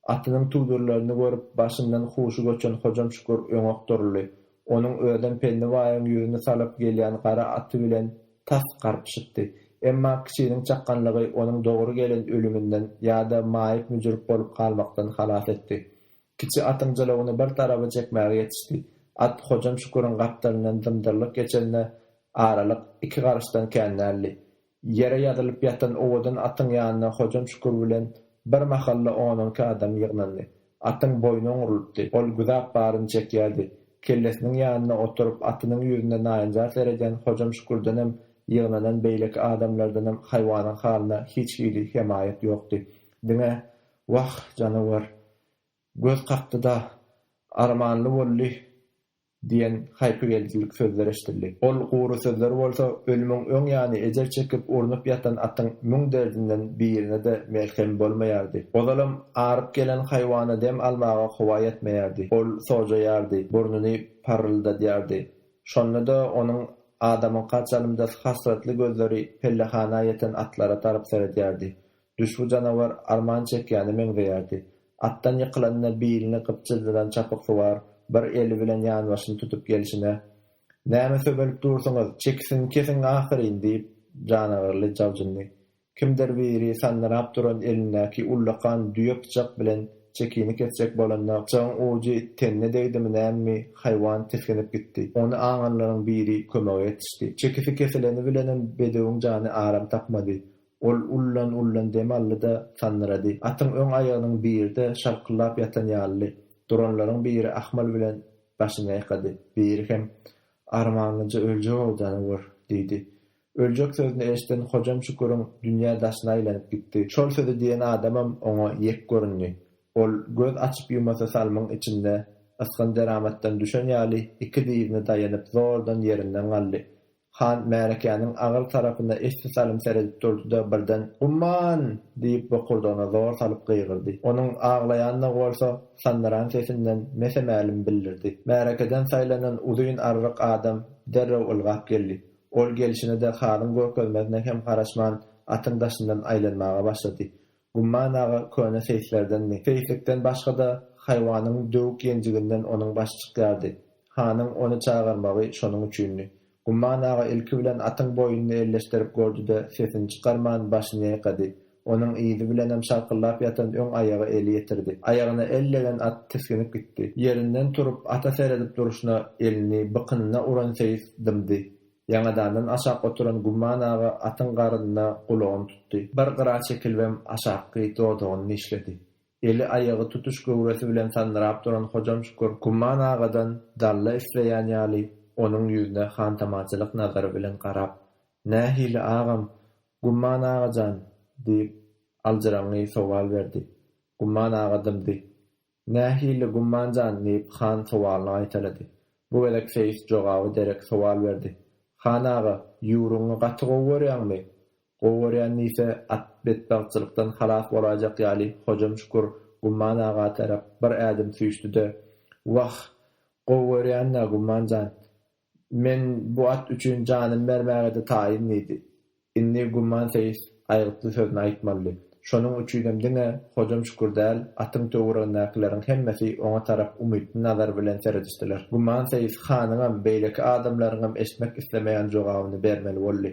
Atynyň tüwdürlerini görüp, başyndan huşy göçen Hojam Şükür öň okduryldy. Onuň özem Pelli baýyň ýüzüni salap gelýän gara aty bilen tas garpyşypdy. Emma kiçiniň çakganlygy onuň dogry gelen ölüminden ýa-da maýyp-müjrüp bolup galmakdan halas etdi. Kiçi atyň jylawyny bir taraba çekmäge ýetişdi. At Hojam Şüküriň gapdalyndan dymdyrlyk geçende aralyk iki garyşdan kän däldi. Ýere ýazylyp ýatan owadan atyň ýanyna Hojam Şükür bilen bir mahalda on-onki adam ýygnandy. Atyň boýny oňrulypdy. Ol güzap baryny çekýärdi. Kellesiniň ýanynda oturyp, atynyň ýüzüne naýynjar seredýän Hojam Şükürdenem, ýygnanan beýleki adamlardanam haýwanyň halyna hiç hili hemaýat ýokdy. Diňe, Wah, janawar! Göz kakdy-da! Armanly boldy! Diýen haýpygeldilik sözler eşidildi. Ol gury sözler bolsa ölümiň öň ýany ejir çekip urnup ýatan atyň müň derdinden birine-de melhem bolmaýardy. Ozalam aryp gelen haýwana dem almaga howa ýetmeýärdi. Ol sojaýardy, burnuny parryldadýardy. Şonda-da onuň adamyňka çalymdas hasratly gözleri pellehana ýeten atlara tarap seredýärdi. Düşbi janawar arman çekýäne meňzeýärdi. Atdan ýykylanda bilini gypjyldydan çapyksuwar bir eli bilen ýanbaşyny tutup gelşine, Näme söbelip dursuňyz, çekisini kesiň ahyryn! diýip, janagarly jabjyndy. Kimdir biri sandyrap duran elindäki ullakan düýe pyçak bilen çekini kesjek bolanda, pyçagyň ujy tenine degdimi nämemi, haýwan tisginip gitdi. Ony aňanlaryň biri kömege ýetişdi. Çekisi kesileni bilenem bedewiň jany aram tapmady. Ol ullan-ullan dem aldy-da, sandyrady. Atyň öň aýagynyň biri-de şarkyllap ýatan ýalydy. Duranlaryň biri ahmal bilen başyny ýaýkady. Biri hem, Armanlyja öljek howdany gör! diýdi. Öljek sözüni eşiden Hojam Şüküriň dünýä daşyna aýlanyp gitdi. Şol sözi diýen adamam oňa ýek göründi. Ol göz açyp-ýumasy salymyň içinde ysgyn deramatdan düşen ýaly iki dizine daýanyp zordan ýerinden galdy. Han märekäniň agyr tarapyna esli salym seredip durdy-da, birden, Umman! diýip, bokurdagyna zor salyp gygyrdy. Onuň aglaýandygy bolsa, sandyran sesinden mese-mälim bildirdi. Märekeden saýlanan uzyn arryk adam derrew ylgap geldi. Ol gelşine-de halyň görkezmesine hem garaşman, atyň daşyndan aýlanmaga başlady. Gumman aga köne seýislerdenmi? Seýislikden başga-da, haýwanyň döwük ýenjiginden onuň başy çykýardy. Hanyň ony çagyrmagy şonuň üçindi. Gumman aga ilki bilen atyň boýnuny elleşdirip gördi-de, sesini çykarman, başyny ýaýkady. Onuň yzy bilenem şarkyldap ýatan öň aýaga eli ýetirdi. Aýagyna el degen at tisginip gitdi. Ýerinden turup, ata seredip durşuna elini bykynyna uran seýis dymdy. Ýaňadandan aşak oturan Gumman aga atyň garnyna gulagyny tutdy. Bir gyra çekilibem aşakky dodagyny dişledi. Eli, aýagy tutuş göwresi bilen sandyrap duran Hojam Şükür Gumman agadan dalla isleýän ýaly, onuň ýüzüne hantamaçylyk nazary bilen garap, Nähili, agam, Gumman aga jan? diýip, aljyraňňy sowal berdi. Gumman aga dymdy. Nähili gumman jan? diýip, han sowalyny gaýtalady. Bu gezek seýis jogaby derek sowal berdi. Han aga, ýüwrüňi gaty gowy görýäňmi? Gowy görýän diýse, at betbagtçylykdan halas bolaýjak ýaly Hojam Şükür Gumman aga tarap bir ädim süýşdi-de, Wah, gowy görýän-dä, Gumman jan. Men bu at üçin janym bermäge-de taýyn diýdi. Indi Gumman seýis aýgytly sözüni aýtmalydy. Şonuň üçinem diňe Hojam Şükür däl, atyň töweregindäkileriň hemmesi oňa tarap umytly nazar bilen seredişdiler. Gumman seýis hanyňam, beýleki adamlaryňam eşitmek islemeýän jogabyny bermeli boldy,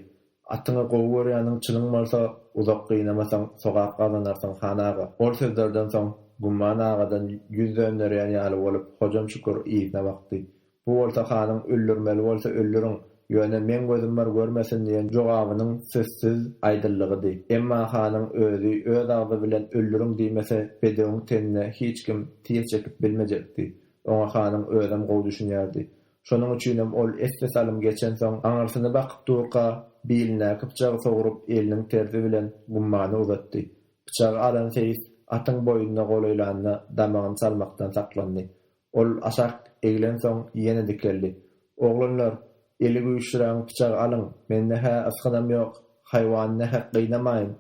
Atyňy gowy görýäniň çynyň bolsa, uzak gynamasaň, sogap gazanarsyň, han aga. Ol sözlerden soň, Gumman agadan ýüz dönderýän ýaly bolup, Hojam Şükür yzyna bakdy. Bu bolsa hanyň öldürmeli bolsa öldüriň, ýöne meň gözüm bar görmesin diýen jogabynyň sözsüz aýdyldygydy. Emma hanyň özi öz agzy bilen öldüriň diýmese bedewiň tenine hiç kim tiz çekip bilmejekdi. Oňa hanyň özem gowy düşünýärdi. Şonuň üçinem ol esli salym geçensoň aňyrsyny bakyp durka bilindäki pyçagy sogrup eliniň tersi bilen gummana uzatdy. Pyçagy alan seýis atyň boýnuna golaýlanda damagyny salmakdan saklandy. Ol aşak eglensoň, ýene dikeldi. Oglanlar, eli güýçlirägiň pyçagy alyň, mende-hä ysgynam ýok, haýwany nähak gynamaýyn.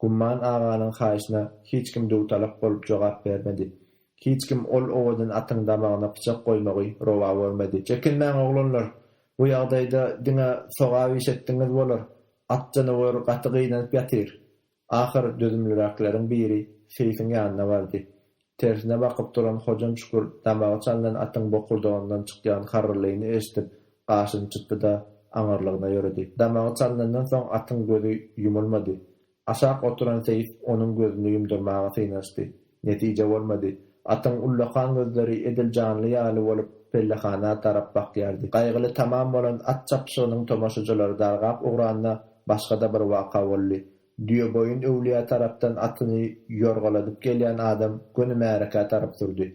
Gumman aganyň haýyşyna hiç kim dutalak bolup jogap bermedi. Hiç kim ol owadan atyň damagyna pyçak goýmagy rowa görmedi. Çekinmäň, oglanlar, bu ýagdaýda diňe sogap iş etdigiňiz bolar, at janawer gaty gynanyp ýatyr. Ahyr dözümliräkleriň biri seýsiň ýanyna bardy. Tersine bakyp duran Hojam Şükür damagy çalnan atyň bokurdagyndan çykýan harrylyny eşidip, gaşyny çytdy-da, aňyrlygyna ýöredi. Damagy çalnandan soň atyň gözi ýumulmady. Aşak oturan seýis onuň gözüni ýumdurmaga synanyşdy. Netije bolmady. Atyň ullakan gözleri edil janly ýaly bolup, pellehana tarap bakýardy. Gaýgyly tamam bolan at çapyşygynyň tomaşyjylary dargap ugranda, başga-da bir waka boldy. Düýeboýun öwlüýä tarapdan atyny ýorgaladyp gelýän adam göni märekä tarap sürdi.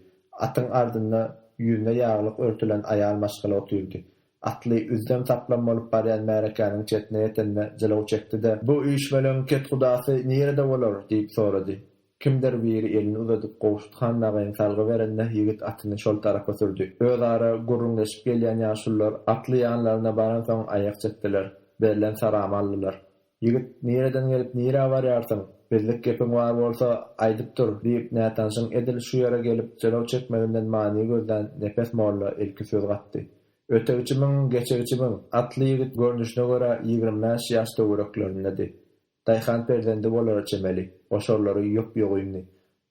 Atyň ardynda ýüzüne ýaglyk örtülen aýal maşgala otyrdy. Atly üzzem-saplam bolup barýan märekäniň çetine ýetende jylaw çekdi-de. Bu üýşmeleň kethudasy nirede bolar? diýip sorady. Kimdir biri elini uzadyp Gowşuthan Nagaýyň salgy berende ýigit atyny şol tarapa sürdi. Özara gürrüňleşip gelýän ýaşulylar atly ýanlaryna baransoň aýak çekdiler. Berlen saramy aldylar. Ýigit, Nireden gelip nirä barýarsyň? Bizlik gepiň bar bolsa, aýdyp dur! diýip, nätanşyň edil şu ýere gelip jylaw çekmeginden many gözlän Nepes molla ilki söz gatdy. Ötegçimiň, geçegçimiň! Atly ýigit görnüşine görä ýigrimi bäş ýaş töwereklerindedi. Daýhan perzendi bolara çemeli. Goşarlary ýop-ýok indi.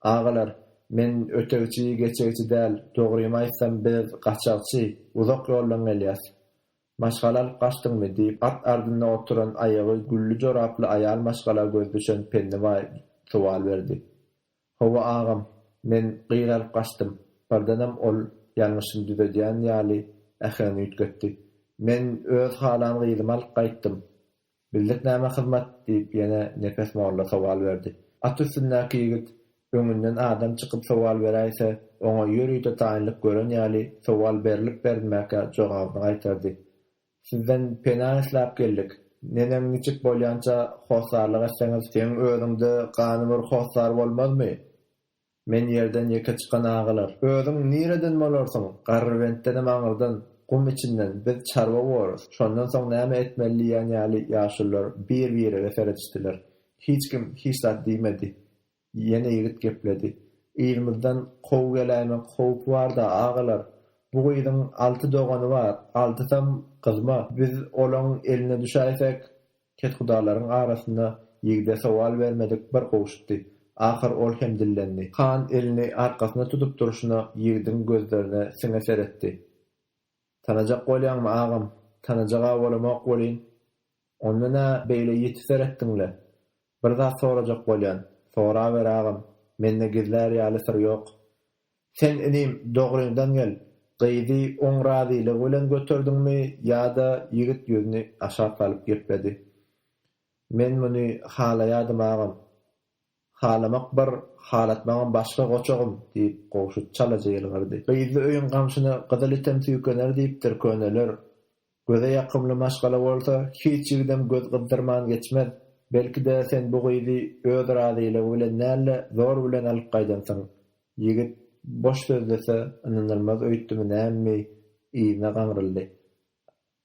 Agalar, men ötegçi, geçegçi däl, dogrymy aýtsam, biz gaçakçy, uzak ýoldan gelýäs. Maşgala alyp gaçdyňmy? diýip, at ardynda oturan aýagy gülli joraply aýal maşgala göz düşen Pennibaý sowal berdi. Hawa, agam, men gyz alyp gaçdym. Birdenem ol ýalňyşyny düzedýän ýaly äheňini üýtgetdi. Men öz halan gyzymy alyp gaýtdym. Bildik näme hyzmat? diýip, ýene Nepes molla sowal berdi. At üstündäki ýigit öňünden adam çykyp sowal beräýse, oňa ýörite taýynlyk gören ýaly, sowal berlip-berilmäkä jogabyny gaýtardy. Sizden pena isläp geldik. Neneň niçik bolýança hossarlyk etseňiz, seň özüň-de ganymyr hossar bolmazmy? Men ýerden ýeke çykan agalar. Özüň nireden bolarsyň? Garrybentdenem aňyrdan, gum içinden, biz çarwa borus, şondan soň näme etmeli diýýän ýaly ýaşulular bir-birege seredişdiler. Hiç kim hiç zat diýmedi. Ýene ýigit gepledi. Yzymyzdan kow geläýmek howpy bar-da, agalar. Bu gyzyň alty dogany bar, altysam gyzma. Biz olaň eline düşäýsek, Kethudalaryň arasynda ýigde sowal bermedik bir gowşutdy. Ahyr ol hem dillendi. Han elini arkasyna tutup durşuna ýigidiň gözlerine siňe seretdi. Tanajak bolýaňmy, agam? Tanajag-a bolamok welin. Onda nä beýle ýiti seretdiň-le? Bir zat sorajak bolýan. Soraber, agam. Mende gizlär ýaly syr ýok. Sen inim dogryňdan gel, gyzy oň razylygy bilen göterdiňmi ýa-da ýigit ýüzüni aşak salyp gepledi. Men muny halaýadym agam. Halamak bir, halatmagam başga goçagym, diýip Gowşut çalaja ýylgyrdy. Gyzly öýüň gamşyna gyzyl item süýkener diýipdir köneler. Göze ýakymly maşgala bolsa, hiç ýigidem göz gyzdyrman geçmez. Belki-de, sen bu gyzy öz razylygy bilen däl-de, zor bilen alyp gaýdansyň. Ýigit boş sözlese, ynanylmaz öýtdümi nämemi, yzyna gaňryldy.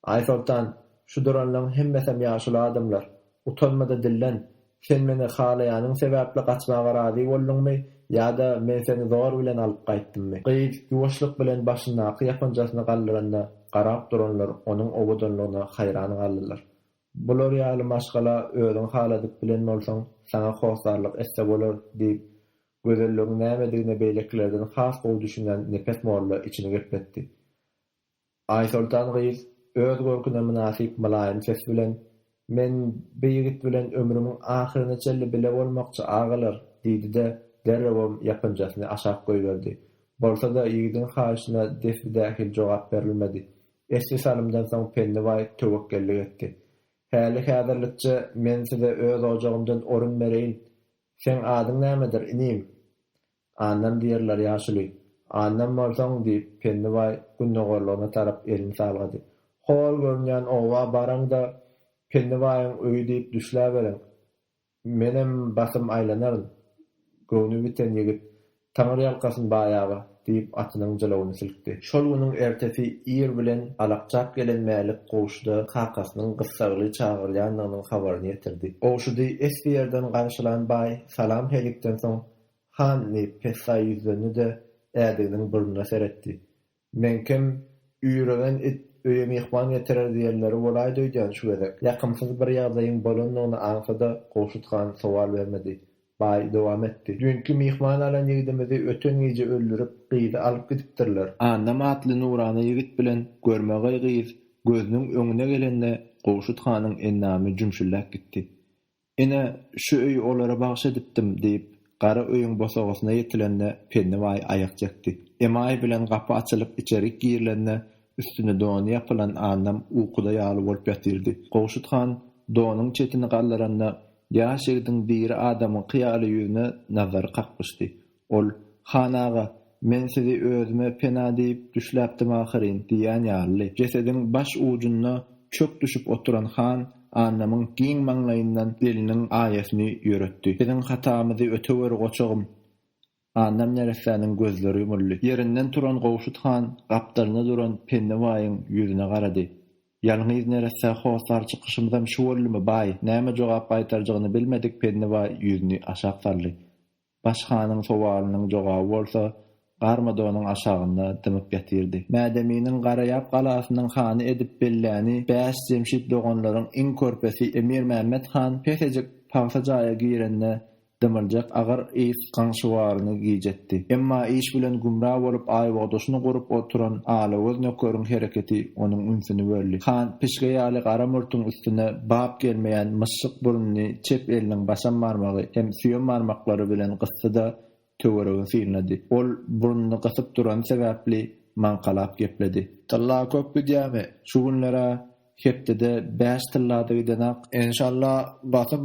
Aýsoltan, şu duranlaň hemmesem ýaşuly adamlar. Utanma-da dillen, Sen meni halaýanyň sebäpli gaçmaga razy bolduňmy ýa-da men seni zor bilen alyp gaýtdymmy? Gyz ýuwaşlyk bilen başyndaky ýapynjasyny galdyranda garap duranlar onuň owadanlygyna haýran galdylar. Bular ýaly maşgala özüň haladyp bilen bolsaň, saňa hossarlyk etse bolar, diýip, gözelligiň nämedigine beýlekilerden has gowy düşünýän Nepes molla içini gepletdi. Aýsoltan gyz öz görküne mynasyp mylaýym ses bilen, Men bi ýigit bilen ömrümiň ahyryna çenli bile bolmakçy, agalar! diýdi-de, derrewem ýapynjasyny aşak goýberdi. Bolsa-da, ýigidiň haýyşyna desbi-dähil jogap berilmedi. Esli salymdan soň Penni baý töwekgellik etdi. Häli-häzirlikçe men size öz ojagymdan orun bereýin. Seň adyň nämedir, inim? Annam diýerler ýaşuly. Annam bolsaň, diýip, Pennibaý gündogarlygyna tarap elini salgady. Hol görünýän oba baraň-da, Pennibaýyň öýi diýip düşläberiň. Menem basym aýlanaryn. Göwni biten ýigit, Taňyrýalkasyn baýaga, diýip, atynyň jylawyny silkdi. Şol günüň ertesi ir bilen alakjap gelen Mälik Gowşuda kakasynyň gyssagly çagyrýandygynyň habaryny ýetirdi. Gowşudy esli ýerden garşylan baý salam-helikden soň, Han diýip pessaý ýüzlendi-de, ädiginiň burnuna seretdi. Meňkem, üýregen it öýe myhman getirer diýenleri bolaýdy öýdýän şu gezek. Ýakymsyz bir ýagdaýyň bolandygyny aňsa-da, Gowşut han sowal bermedi. Baý dowam etdi. Düýnki myhman alan ýigdimizi öten gije öldürip, gyzy alyp gidipdirler. Annam atly nurana ýigit bilen görmegeý gyz gözüniň öňüne gelende Gowşut hanyň endamy jümşüldäp gitdi. Ine, şu öýi olara bagyş edipdim, diýip, gara öýüň bosagasyna ýetilende Pennibaý aýak çekdi. Emaý bilen gapy açylyp içerik girilende üstüne dony ýapylan Annam ukuda ýaly bolup ýatyrdy. Gowşut han donuň çetini galdyranda ýaş ýigidiň diri adamyňky ýaly ýüzüne nazary kaklyşdy. Ol, Han aga, men sizi özüme pena diýip düşläpdim ahyryn diýýän ýalydy. Jesediň baş ujunda çök düşüp oturan Han Annamyň giň maňlaýyndan eliniň aýasyny ýöretdi. Biziň hatamyzy ötewer, goçagym! Annam neressäniň gözleri ýumuldy. Ýerinden turan Gowşut Han gapdalynda duran Penni baýyň ýüzüne garady. Ýalňyz neressä hossar çykyşymyzam şu boldumy, baý? Näme jogap gaýtarjagyny bilmedik Penni baý ýüzüni aşak saldy. Baş hanyň sowalynyň jogaby bolsa Garmadonyň aşagynda dymyp ýatyrdy. Mädeminiň Garaýap galasynyň hany edip belläni bäş Jemşit doganlaryň iň körpesi Emir Mämmet han pesejik pagsa jaýa girende dymyljak agyr ys gaňşywaryny gijetdi. Emma iş bilen gümra bolup aýbogdaşyny gurup oturan alagöz nökeriň hereketi onuň ünsüni böldi. Han pişge ýaly gara murtuň üstüne Bap gelmeýän myşşyk burnuny çep eliniň başam barmagy hem süýem barmaklary bilen gysdy-da, töweregi synlady. Ol burnuny gysyp durany sebäpli maňkalap gepledi. Tylla köp gidýämi? Şu günler-ä hepdede bäş tylla-da gidenok. Enşalla, basym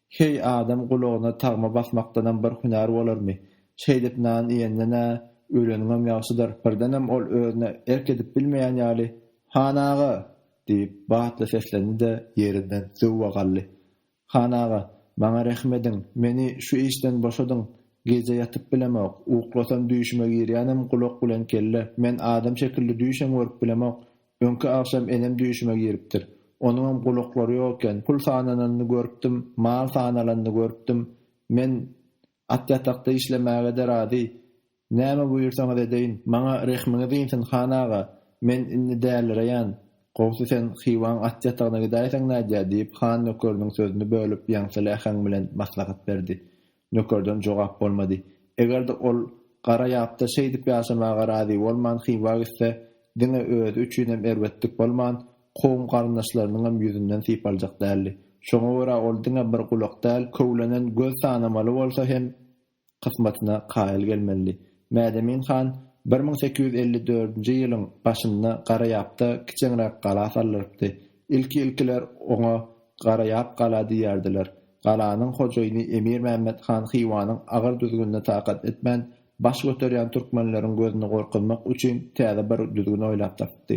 Heý, adam gulagyna tagma basmakdanam bir hünär bolarmy? Şeýdip nan iýenden-ä öleniňem ýagşydyr. Birdenem ol özüne erk edip bilmeýän ýaly, Han aga! diýip, batly seslendi-de, ýerinden zöwwe galdy. Han aga, maňa rehim ediň, meni şu işden boşadyň, gije ýatyp bilemok, uklasam düýşüme girýänem gulak bilen kelle, men adam şekilli düýşem görüp bilemok, Öňki agşam enem düýşüme giripdir. Onuňam gulaklary ýok eken. Pul sanananyny görüpdim, mal sanalanyny görüpdim. Men At ýatakda işlemäge-de razy. Näme buýursaňyz edeýin. Maňa rehmiňiz insin, han aga. Men indi dälireýän. Gowsy sen Hywaň at ýatagyna gidäýseň nädýä? diýip, han nökeriniň sözüni bölüp, ýaňsyly äheň bilen maslahat berdi. Nökerden jogap bolmady. Eger-de ol gara ýapda şeýdip ýaşamaga razy bolman Hywa gitse, diňe özi üçinem erbetlik bolman, kowum-garyndaşlarynyňam ýüzünden sypaljak däldi. Şoňa görä ol diňe bir gulak däl, köwlenen göz sanamaly bolsa hem kysmatyna kaýyl gelmelidi. Mädemin han bir müň sekiz ýüz elli dördünji ýylyň başynda gara ýapda kiçeňräk gala saldyrypdy. Ilki-ilkiler oňa Garaýap gala diýerdiler. Galanyň hojaýyny Emir Mämmet han Hywanyň agyr düzgünine takat etmän, baş göterýän türkmenleriň gözüni gorkuzmak üçin täze bir düzgün oýlap tapypdy.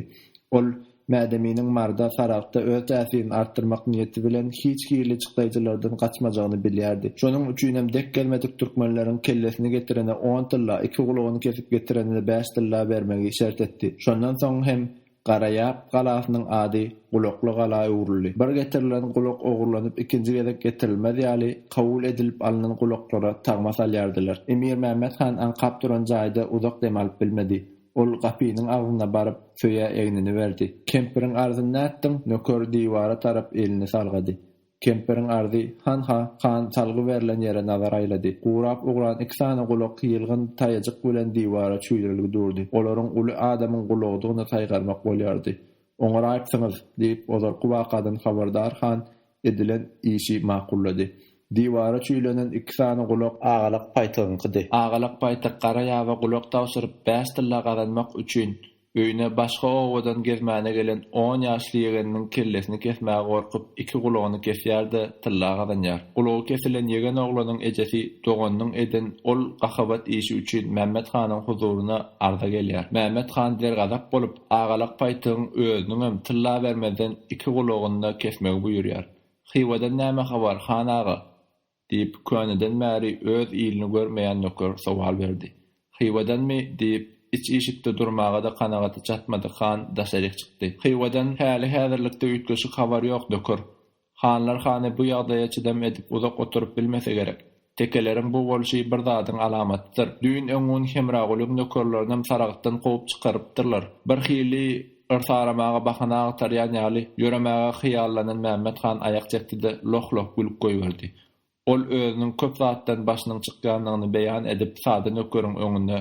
Ol Mädeminiň Marda, Saragtda öz täsirini artdyrmak niýeti bilen hiç hili çykdaýjylardan gaçmajagyny bilýärdi. Şonuň üçinem dek gelmedik türkmenleriň kellesini getirene on tylla, iki gulagyny kesip getirene bäş tylla bermegi şert etdi. Şondan soň hem Garaýap galasynyň ady Gulakly gala öwrüldi. Bir getirilen gulak ogurlanyp ikinji gezek getirilmez ýaly, kabul edilip alnan gulaklara tagma salýardylar. Emir Mämmet han aňkap duran jaýda uzak dem alyp bilmedi. Ol gapynyň agzyna baryp, söýä egnini berdi. Kempiriň arzyn nätdiň? Nöker diwara tarap elini salgady. Kempiriň arzy, hanha, han salgy berlen ýere nazar aýlady. Gurap ugran iki sany gulak ýylgyn taýajyk bilen diwara çüýdürilgi durdy. Olaryň uly adamyň gulagydygyny saýgarmak bolýardy. Oňaraýypsyňyz! diýip, ozalky wakadan habardar han edilen işi makullady. Diwara çüýlenen iki sany gulak. Agalak paýtygyňkydy. Agalak paýtyk gara ýaba gulak tabşyryp, bäş tylla gazanmak üçin, Öýüne başga obadan gezmäne gelen on ýaşly ýegeniniň kellesini kesmäge gorkup, iki gulagyny kesýär-de, tylla gazanýar. Gulagy kesilen ýegen oglanyň ejesi doganynyň eden ol gahabat işi üçin Mämmet hanyň huzuryna arza gelýär. Mämmet han dergazap bolup, Agalak paýtygyň özüniňem tylla bermezden iki gulagyny-da kesmegi buýurýar. Hywadan näme habar, han aga? Diýip, köneden bäri öz ilini görmeýän nöker sowal berdi. Hywadanmy? diýip, iç işikde durmaga-da kanagaty çatmadyk han daşaryk çykdy. Hywadan häli-häzirlikde üýtgeşik habar ýok, nöker. Hanlar hany bu ýagdaýa çydam edip uzak oturyp bilmese gerek. Tekeleriň bu bolşy bir zadyň alamatydyr. Düýn-öňňun Hemragulyň nökerlerinem Saragtdan kowup çykarypdyrlar. Birhili Yrs aramaga bahana agtarýan ýaly, ýöremäge hyýallanan Mämmet han aýak çekdi-de, loh-loh gülüp goýberdi. Ol özüniň köp zatdan başynyň çykýandygyny beýan edip, sada nökeriň öňünde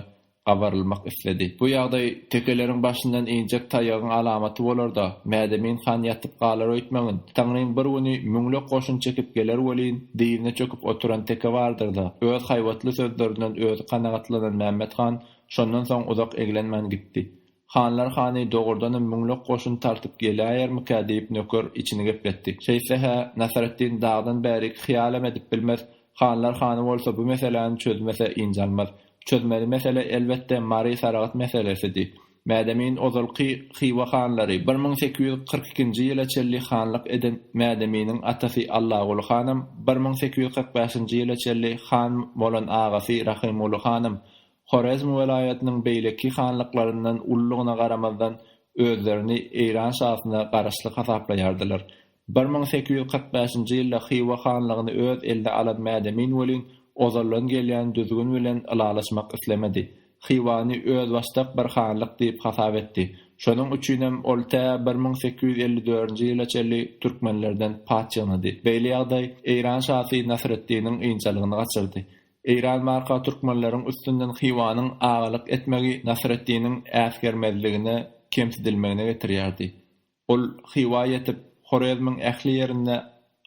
gabarylmak isledi. Bu ýagdaý tekeleriň başyndan injek taýagyň alamaty bolar-da, Mädemin han ýatyp galar öýtmäňin. Taňrym bir güni müňlük goşun çekip geler welin, dyzyna çöküp oturan teke bardyr-da, öz haýbatly sözlerinden özi kanagatlanan Mämmet han şondan soň uzak eglenmän gitdi. Hanlar hany, dogrudanam müňlük goşun tartyp geläýermikä? diýip, nöker içini gepletdi. Şeýtse-hä, Nasreddin dagdan bärik hyýalam edip bilmez. Hanlar hany bolsa bu meseläni çözmese ynjalmaz. Çözmeli mesele, elbetde, Mary Saragt meselesidi. Mädemin ozalky Hywa hanlary, bir müň sekiz ýüz kyrk ikinji ýyla çenli hanlyk eden Mädeminiň atasy Allaguly hanam, bir müň sekiz ýüz kyrk bäşinji ýyla çenli han bolan agasy Rahymguly hanam Horezm welaýatynyň beýleki hanlyklaryndan ululygyna garamazdan, özlerini Eýran şasyna garaşly hasaplaýardylar. Bir müň sekiz ýüz kyrk bäşinji ýylda Hywa hanlygyny öz eline alan Mädemin welin, ozaldan gelýän düzgün bilen ylalaşmak islemedi. Hywany özbaşdak bir hanlyk diýip hasap etdi. Şonuň üçinem ol tä bir müň sekiz ýüz elli dördünji ýyla çenli türkmenlerden paç ýygnady. Beýle ýagdaý Eýran şasy Nasreddiniň ynjalygyny gaçyrdy. Eýran barka türkmenleriň üstünden Hywanyň agalyk etmegi Nasreddiniň äsgermezligine, kemsidilmegine getirýärdi. Ol Hywa ýetip, Horezmiň ähli ýerinde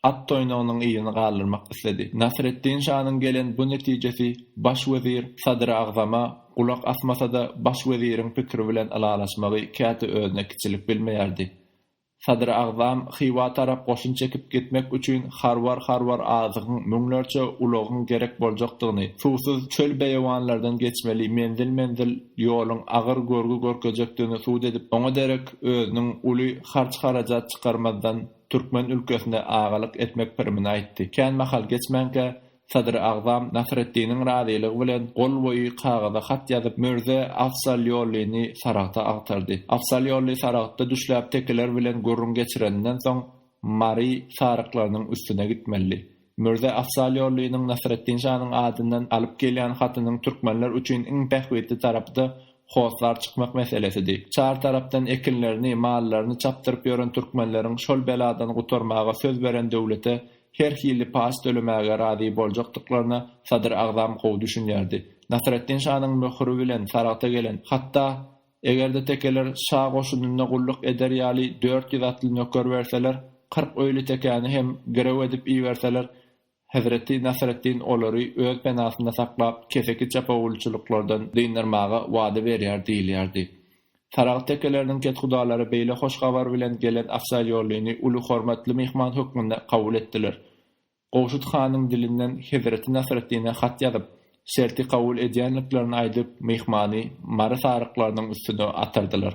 at toýnagynyň yzyny galdyrmak isledi. Nasreddin şanyň gelen bu netijesi baş wezir Sadyr Agzama gulak asmasa-da, baş weziriň pikiri bilen ylalaşmagy käte özüne kiçilik bilmeýärdi. Sadrygzam Hywa tarap goşun çekip gitmek üçin harbar-harbar azygyň, müňlerçe ulagyň gerek boljakdygyny, suwsuz çöl-beýewanlardan geçmeli menzil-menzil ýoluň agyr görgi görkezjekdigini subut edip, oňa derek özüniň uly harç-harajat çykarmazdan türkmen ülkesine agalyk etmek pirimini aýtdy. Kän mahal geçmänkä, Sadr Agzam Nasreddiniň razylygy bilen gol boýy kagyza hat ýazyp, Mürze Afzalýollyny Saragta agtardy. Afzalýolly Saragtda düşläp tekeler bilen gürrüň geçireninden soň, Mary saryklarynyň üstüne gitmelidi. Mürze Afzalýollynyň Nasreddin şanyň adyndan alyp gelýän hatynyň türkmenler üçin iň bähbitli tarapy-da hossar çykmak meselesidi. Çar tarapdan ekinlerini, mallaryny çapdyryp ýören türkmenleriň şol beladan gutarmaga söz beren döwlete her hili paç tölemäge razy boljakdyklaryna Sadyr agzam gowy düşünýärdi. Nasreddin şanyň möhüri bilen Saragta gelen, hatda eger-de tekeler şa goşunynda gulluk eder ýaly dört ýüz atly nöker berseler, kyrk öýli tekäni hem girew edip iberseler, hezreti Nasreddin olary öz penasynda saklap, keseki çapawulçylyklardan dyndarmaga wada berýär diýilýärdi. Saragt tekeleriniň kethudalary beýle hoş habar bilen gelen Afzalýollyny uly hormatly myhman hökmünde kabul etdiler. Gowşut hanyň dilinden hezreti Nasreddine hat ýazyp, şerti kabul edýänliklerini aýdyp, myhmany Mary saryklarynyň üstüne atardylar.